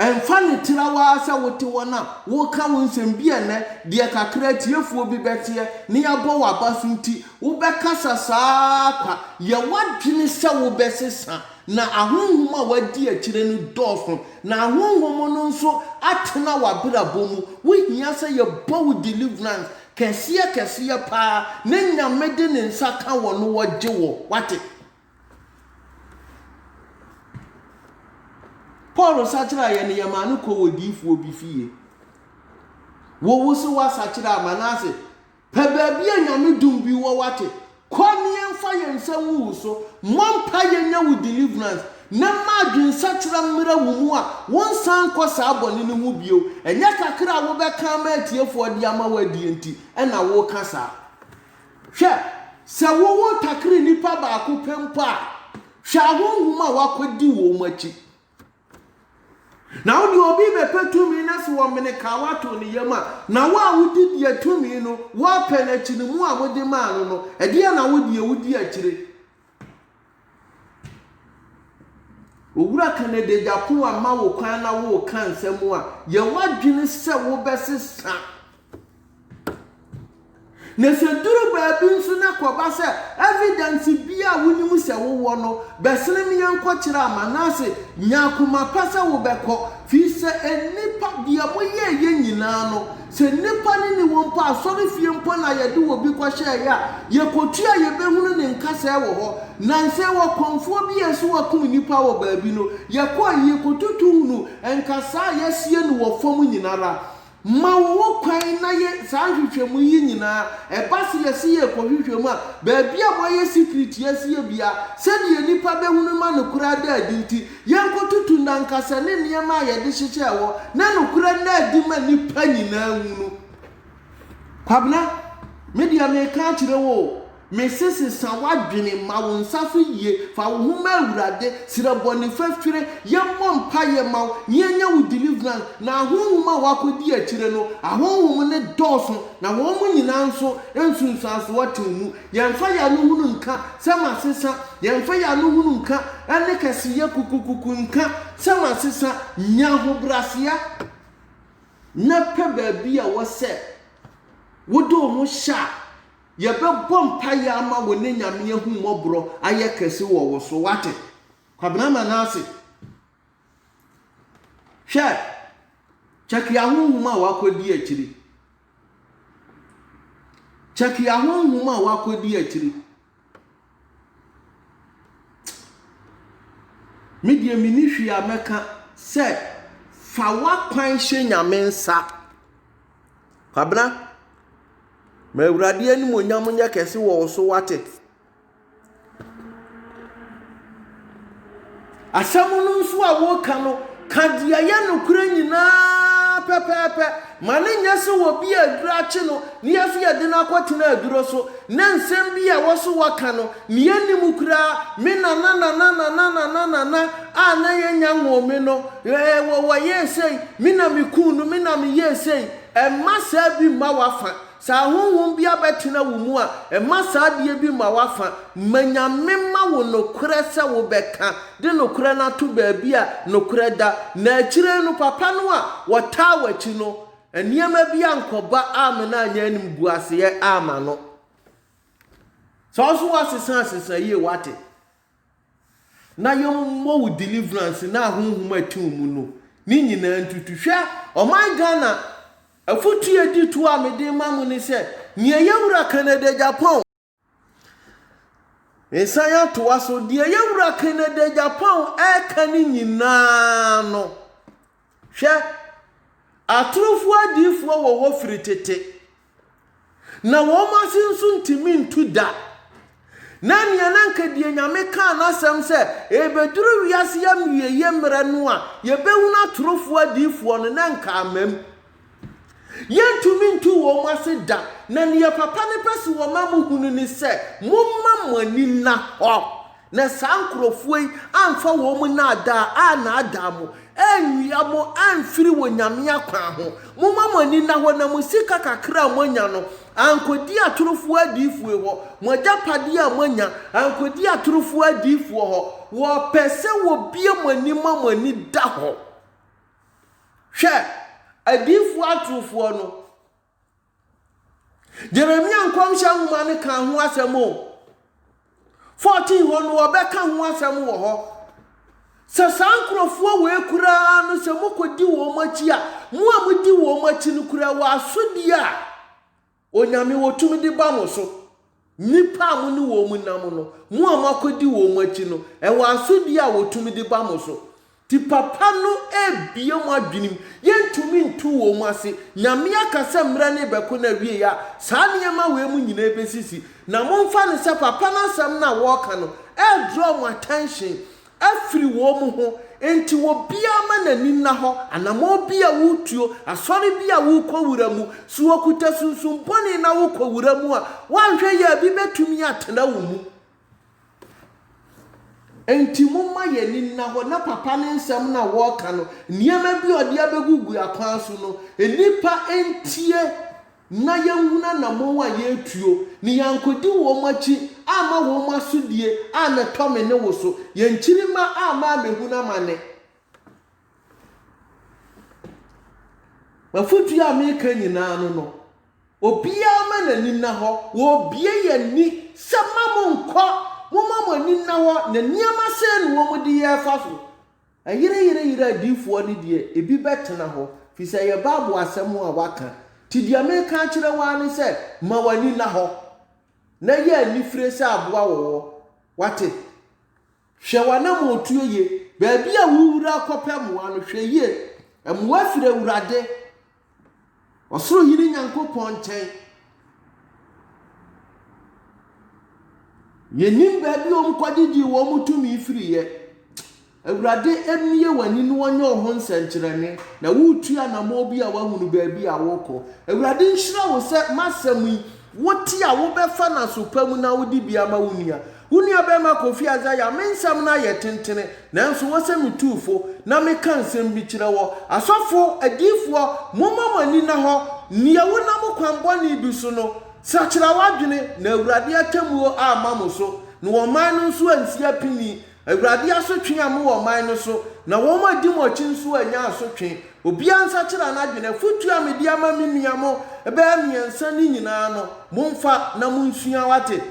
Ɛmfa ne tirawa sɛ wote wɔn a wɔka wo nsɛm bi ɛnɛ, deɛ kakra atiefoɔ bi bɛteɛ na yɛabɔ w'aba so nti, wobɛkasa saa kwa. Yɛ w'adwene sɛ wobɛsesa. Na ahonhom a woadi akyire no dɔɔso, na ahonhom no nso atena w'abrabɔ mu. Wohia sɛ yɛbɔ wo deliverance. Kɛseɛ kɛseɛ paa ne Nyame de ne nsa ka wɔ no wɔ gye wɔ wate. Paul sakyeraa yɛ no yɛ maa no kɔ wɔ diifoɔ bi fie. Wo wo se wa sakyeraa Manase pɛ baabi a Nyame dum bi wɔ wate Kɔ ne yɛnfa yɛn nsa ngu wo so, mmɔ mpae yɛnyɛ wo deliverance, na mma adwensakyera mmera wo mu a wonsan nkɔ saa bɔne no ho bio. Ɛnyɛ kakra a wobɛka ama atiefoɔ de ama wo adie nti na woreka saa. Hwɛ, sɛ wowo takre nnipa baako pɛ mpo a, hwɛ ahonhom a wɔakɔdi wɔn akyi. Na wo deɛ obi bɛpɛ tumi na sɛ wɔmene kaa woato ne yam a, na wo a wodi deɛ tumi no wɔpɛ no akyi no mu a mode maa no no, ɛdeɛn na wo deɛ wodi akyire? Owura Kennedy Agyapong ama wo kwan na woreka nsɛm a yɛwɔ adwene sɛ wobɛsesa. Na sɛ duru baabi nso na kɔba sɛ evidence bi a wonim sɛ wowɔ no, bɛsene me yɛnkɔkyerɛ ama no ase. Nya akoma pa sɛ wobɛkɔ, firi sɛ nnipa, deɛ moyɛeɛ nyinaa no, sɛ nnipa no ni wɔ mpo a, asɔrefie mpo na yɛde obi kɔhyɛeɛ a, yɛkɔtu a yɛbɛhunu ne nkasɛɛ wɔ hɔ. Nansɛ ɔkɔmfoɔ bi a ɛse wakum nnipa wɔ baabi no, yɛkɔɔ, yɛkɔtutu hunu nkasɛɛ a yɛasie no wɔ fam nyina ara. Ma wɔwɔ kwan na yɛ saa nhwehwɛmu yi nyinaa. Ɛba se yɛse yɛrekɔhwehwɛ mu a, baabi a wɔayɛ secret yi asi yɛ biara, sɛdeɛ nnipa bɛhunu ma nokorɛ ada adi nti, yɛnkɔtutu nnankasɛ ne nneɛma a yɛde hyehyɛ ɛwɔ, na nokorɛ nna adi ma nnipa nyinaa nhunu. Kwabena, me deɛ mereka akyerɛ wo o, Mese sesa w'adwene, ma wo nsa so yie, fa wo ho ma Awurade, srɛ bɔne fafire, yɛmmɔ mpaeɛ ma wo na yɛnyɛ wo deliverance, na ahonhom a woakɔdi akyire no, ahonhom no dɔɔso, na wɔn mu nyinaa nso nsunsuansoɔ te wo mu. Yɛmfa yɛn ano hunu nka sɛ masesa, yɛmfa yɛn ano hunu nka ne kɛseyɛ kukukuku nka sɛ masesa, nya ahobrɛaseɛ na pɛ baabi a ɛwɔ sɛ wode wo ho hyɛ a Yɛbɛbɔ mpaeɛ ama wo ne Nyame ahummɔborɔ ayɛ kɛse wɔ wo so, wate? Kwabena Manasseh, hwɛ, Chakia honhom a wakɔdi akyiri. Chakia honhom a wakɔdi akyiri. Me deɛ menni hwee a mɛka sɛ fa w'akwan hyɛ Nyame nsa. Kwabena, ma Awurade animuonyam nyɛ kɛse wɔ wo so, wate? Asɛm no nso a woreka no, ka deɛ ɛyɛ nokorɛ nyinaa pɛpɛɛpɛ. Ma ne nyɛ sɛ obi a aduro akye no na yɛso yɛde no akɔtena aduro so. Na nsɛm bi a wɔse wɔka no, nea enni mu koraa, me nananananananananana a na yɛanya nwoo me no, ɛɛ, wɔ, wɔyɛɛ sei, me na mikuu no, me na meyɛɛ sei. Mma saa bi mma w'afã. Sɛ ahonhom bi abɛtena wo mu a, mma saa adeɛ bi mma w'afã. Ma Nyame mma wo nokorɛ sɛ wobɛka, de nokorɛ no ato baabi a nokorɛ da. Na akyire yi no, papa no a wɔtaa w'akyi no, Nneɛma bi ankɔba amma no annya animguaseɛ amma no. Sɛ wo nso woasesa asesa yie wate. Na yɛmmɔ wo deliverance na ahonhom atu wo mu no ne nyinaa ntutu. Hwɛ ɔman Ghana afotuo a ɛdi toɔ a mede rema mo ne sɛ, nea yɛn wura Kennedy Agyapong, Mesan atoa so, deɛ yɛn wura Kennedy Japan ɛreka ne nyinaa no, hwɛ, atorofoɔ adiyifoɔ wɔ hɔ firi tete, na wɔn ase nso ntumi ntu da. Na nea na nka deɛ Nyame kaa n'asɛm sɛ ɛrebɛduru wiase awieyɛ mmerɛ no a yɛbɛhunu atorofoɔ adiyifoɔ no, na nka amam. Yɛrentumi ntu wɔn ase da, na nea Papa no pɛ sɛ wɔma muhunu ne sɛ, momma mo ani nna hɔ, na saa nkurɔfoɔ yi amfa wɔn nnaadaa annaadaa mo, anwia mo amfiri wɔn Nyame akwan ho. Momma mo ani nna hɔ, na mo sika kakra a moanya no, ankɔdi atorofoɔ adiyifoe hɔ, mo agyapadeɛ a moanya, ankɔdi atorofoɔ adiyifoɔ hɔ. Wɔpɛ sɛ wɔbue mo ani ma mo ani da hɔ. Hwɛ! Adiyifoɔ atorofoɔ no. Jeremia nkɔmhyɛ nwoma no kaa ho asɛm o. 14 hɔ no wɔbɛka ho asɛm wɔ hɔ. Sɛ saa nkurɔfoɔ wei koraa no sɛ mokɔdi wɔn akyi a, mo a modi wɔn akyi no kura wɔ asodie a Onyame, wɔ tumidi ba mo so, nnipa a mo ne wɔn nam no, mo a moakɔdi wɔn akyi no, wɔ asodie a wɔ tumidi ba mo so. Nti papa no rebue mo adwenem, yɛntumi ntu wɔn ase, Nyame aka sɛ mmerɛ no rebɛko na awiei a saa nneɛma wei mo nyinaa bɛsisi. Na momfa no sɛ papa no asɛm no a wɔreka no ɛredrɔ mo attention, afiri wɔn ho, enti obiara mma n'ani nna hɔ, anammɔn bi a woretuo, asɔre bi a worekɔwura mu, so wokuta sunsum bɔne na wokɔwura mu a, woanhwɛ yie a bi bɛtumi atena wo mu. Enti momma yɛn ani nna hɔ na papa no nsɛm no a wɔreka no, nneɛma bi a ɔde abɛgugu akwan so no, nnipa ntie na yɛnhunu anammɔn a yɛretuo, ne yɛannkɔdi wɔn akyi amma wɔn asodie a na ɛtɔ me ne wo so, yɛn nkyirimma a amma ammɛhunu amane. M'afotuo a mereka nyinaa no no, obiara mma n'ani nna hɔ, wɔrebue yɛn ani sɛ mma monnkɔ, momma mo ani nna hɔ, na nneɛma sɛn na wɔde yɛn refa so? Ayerayerayera adiyifoɔ no deɛ, ebi bɛtena hɔ, firi sɛ ɛyɛ Bible asɛm a wɔaka. Nti deɛ mereka akyerɛ wo ara ne sɛ, ma w'ani nna hɔ, na yɛ anifire sɛ aboa wɔ hɔ. Woate? Hwɛ w'anammɔntuo yie. Baabi a worewura akɔpɛ mmoa no, hwɛ yie. Mmoa firi Awurade. Ɔsoro Hene Nyankopɔn nkyɛn. Yɛnnim baabi a wɔkɔgyegyee wɔn tumi firiiɛ. Awurade, mmue w'ani na wɔnyɛ wo ho nsɛnkyerɛnne, na woretu anammɔn bi a woahunu baabi a worekɔ. Awurade nhyira wo sɛ m'asɛm yi, wote a wobɛfa n'aso pa mu na wode bi ama wo nua. Wo nuabarima Kofi Adza ya me nsɛm no ayɛ tentene, nanso wo sɛ me tuufo na meka nsɛm bi kyerɛ wɔ. Asɔfo, adiyifoɔ, momma mo ani nna hɔ, nea wo nam kwan bɔne bi so no, sakyera w'adwene, na Awurade atemmuo amma mo so, na ɔman no nso ansi apini. Awurade asotwe a mowɔ ɔman no so, na wɔn a di mo akyi nso anya asotwe. Obiara nsakyera n'adwene. Afotuo a mede ama me nua mo bɛyɛ mmiɛnsa no nyinaa no, momfa na monsua, wate.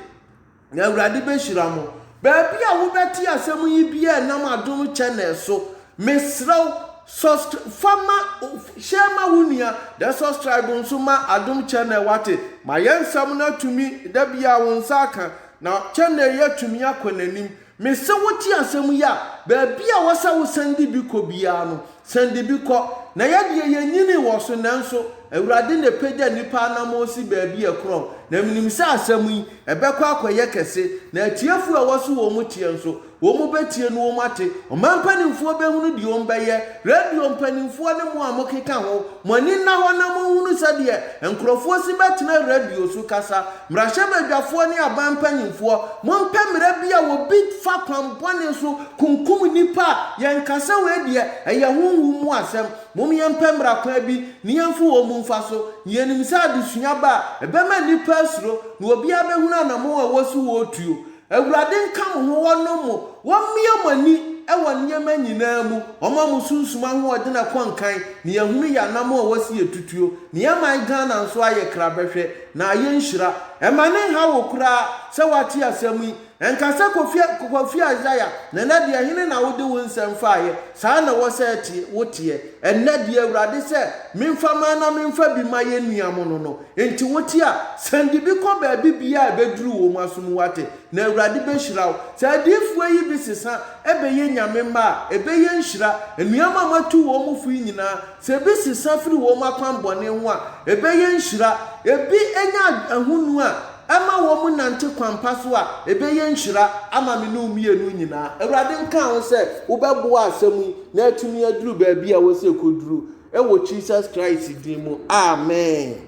na Awurade bɛhyira mo. Baabi a wobɛte asɛm yi biaa ɛnam Adom Channel so. Mesrɛ wo, subscri-, fa ma, share ma wo nua, then subscribe nso ma Adom Channel wate. Ma yɛn nsɛm no atumi, da biaa wo nsa aka, na channel yi atumi akɔ n'anim. Me sɛ wo te asɛm yi a, baabi a wɔ sɛ wo sane de bi kɔ biara no, sane de bi kɔ. Na yɛ deɛ yɛ nyinii wɔ so, nanso Awurade na ɛpagya nnipa anamɔn si baabi a ɛkorɔn. Na me nim sɛ asɛm yi, ɛbɛkɔ akɔ yɛ kɛse, na atiefoɔ a ɛwɔ so wɔ mo teɛ nso, wɔ mo bɛtie no wɔ mo ate, ɔman mpanimfoɔ bɛhunu deɛ wɔ mo bɛyɛ, radio mpanimfoɔ ne mo a mo keka ho, mo ani nna hɔ na mo nhunu sɛdeɛ nkorɔfoɔ si bɛtena radio so kasa, Mmarahyɛbadwafoɔ ne aban mpanimfoɔ, mompɛ mmara bi a obi fa kwan bɔne so kunkum nnipa a, yɛnka sɛ wei deɛ ɛyɛ honhom mu asɛm. Mom yɛmpɛ mmara kwan bi na yɛmfa wɔn mu mfa so, na yɛnim sɛ adesua ba a, ɛbɛma nnipa asuro, na obiara bɛhunu anamɔn a ɛwɔ so wɔretuo. Awurade nka mo ho wɔnom mo, wɔmmea mo ani wɔ nneɛma nyinaa mu, wɔma mo sunsum ahoɔden a ɛkɔ nkan, na yɛahunu yɛn anammɔn a ɛwɔ se yɛtutuo, na yɛn man Ghana nso ayɛ kra bɛhwɛ, na ayɛ nhyira. Mma no nha wo koraa sɛ woate asɛm yi, nka sɛ Kofi Kofi Isaiah, na ɛnɛ deɛ hene na wode wo nsɛm faeɛ, saa na ɛwɔ sɛ woteɛ, ɛnnɛ deɛ Awurade sɛ memfa man na memfa bi ma yɛn nua mono no, Enti wote a, san de bi kɔ baabi biaa a ɛbɛduru wom aso mu wate, na Awurade bɛhyira wo. Sɛ adiyifoɔ yi bi sesa bɛyɛ Nyame mma a, ɛbɛyɛ nhyira. Nnoɔma a moatu wom fo yi nyinaa, sɛ ebi sesa firi wom akwan bɔne ho a, ɛbɛyɛ nhyira. Ebi nya ahonu a ɛma wom nante kwan pa so a, ɛbɛyɛ nhyira ama me ne wo mmienu nyinaa. Awurade nkaa ho sɛ wobɛboa asɛm yi na atumi aduru baabi a ɛwɔ sɛ ɛkɔduru. Ɛwɔ Jesus Christ din mu, amen.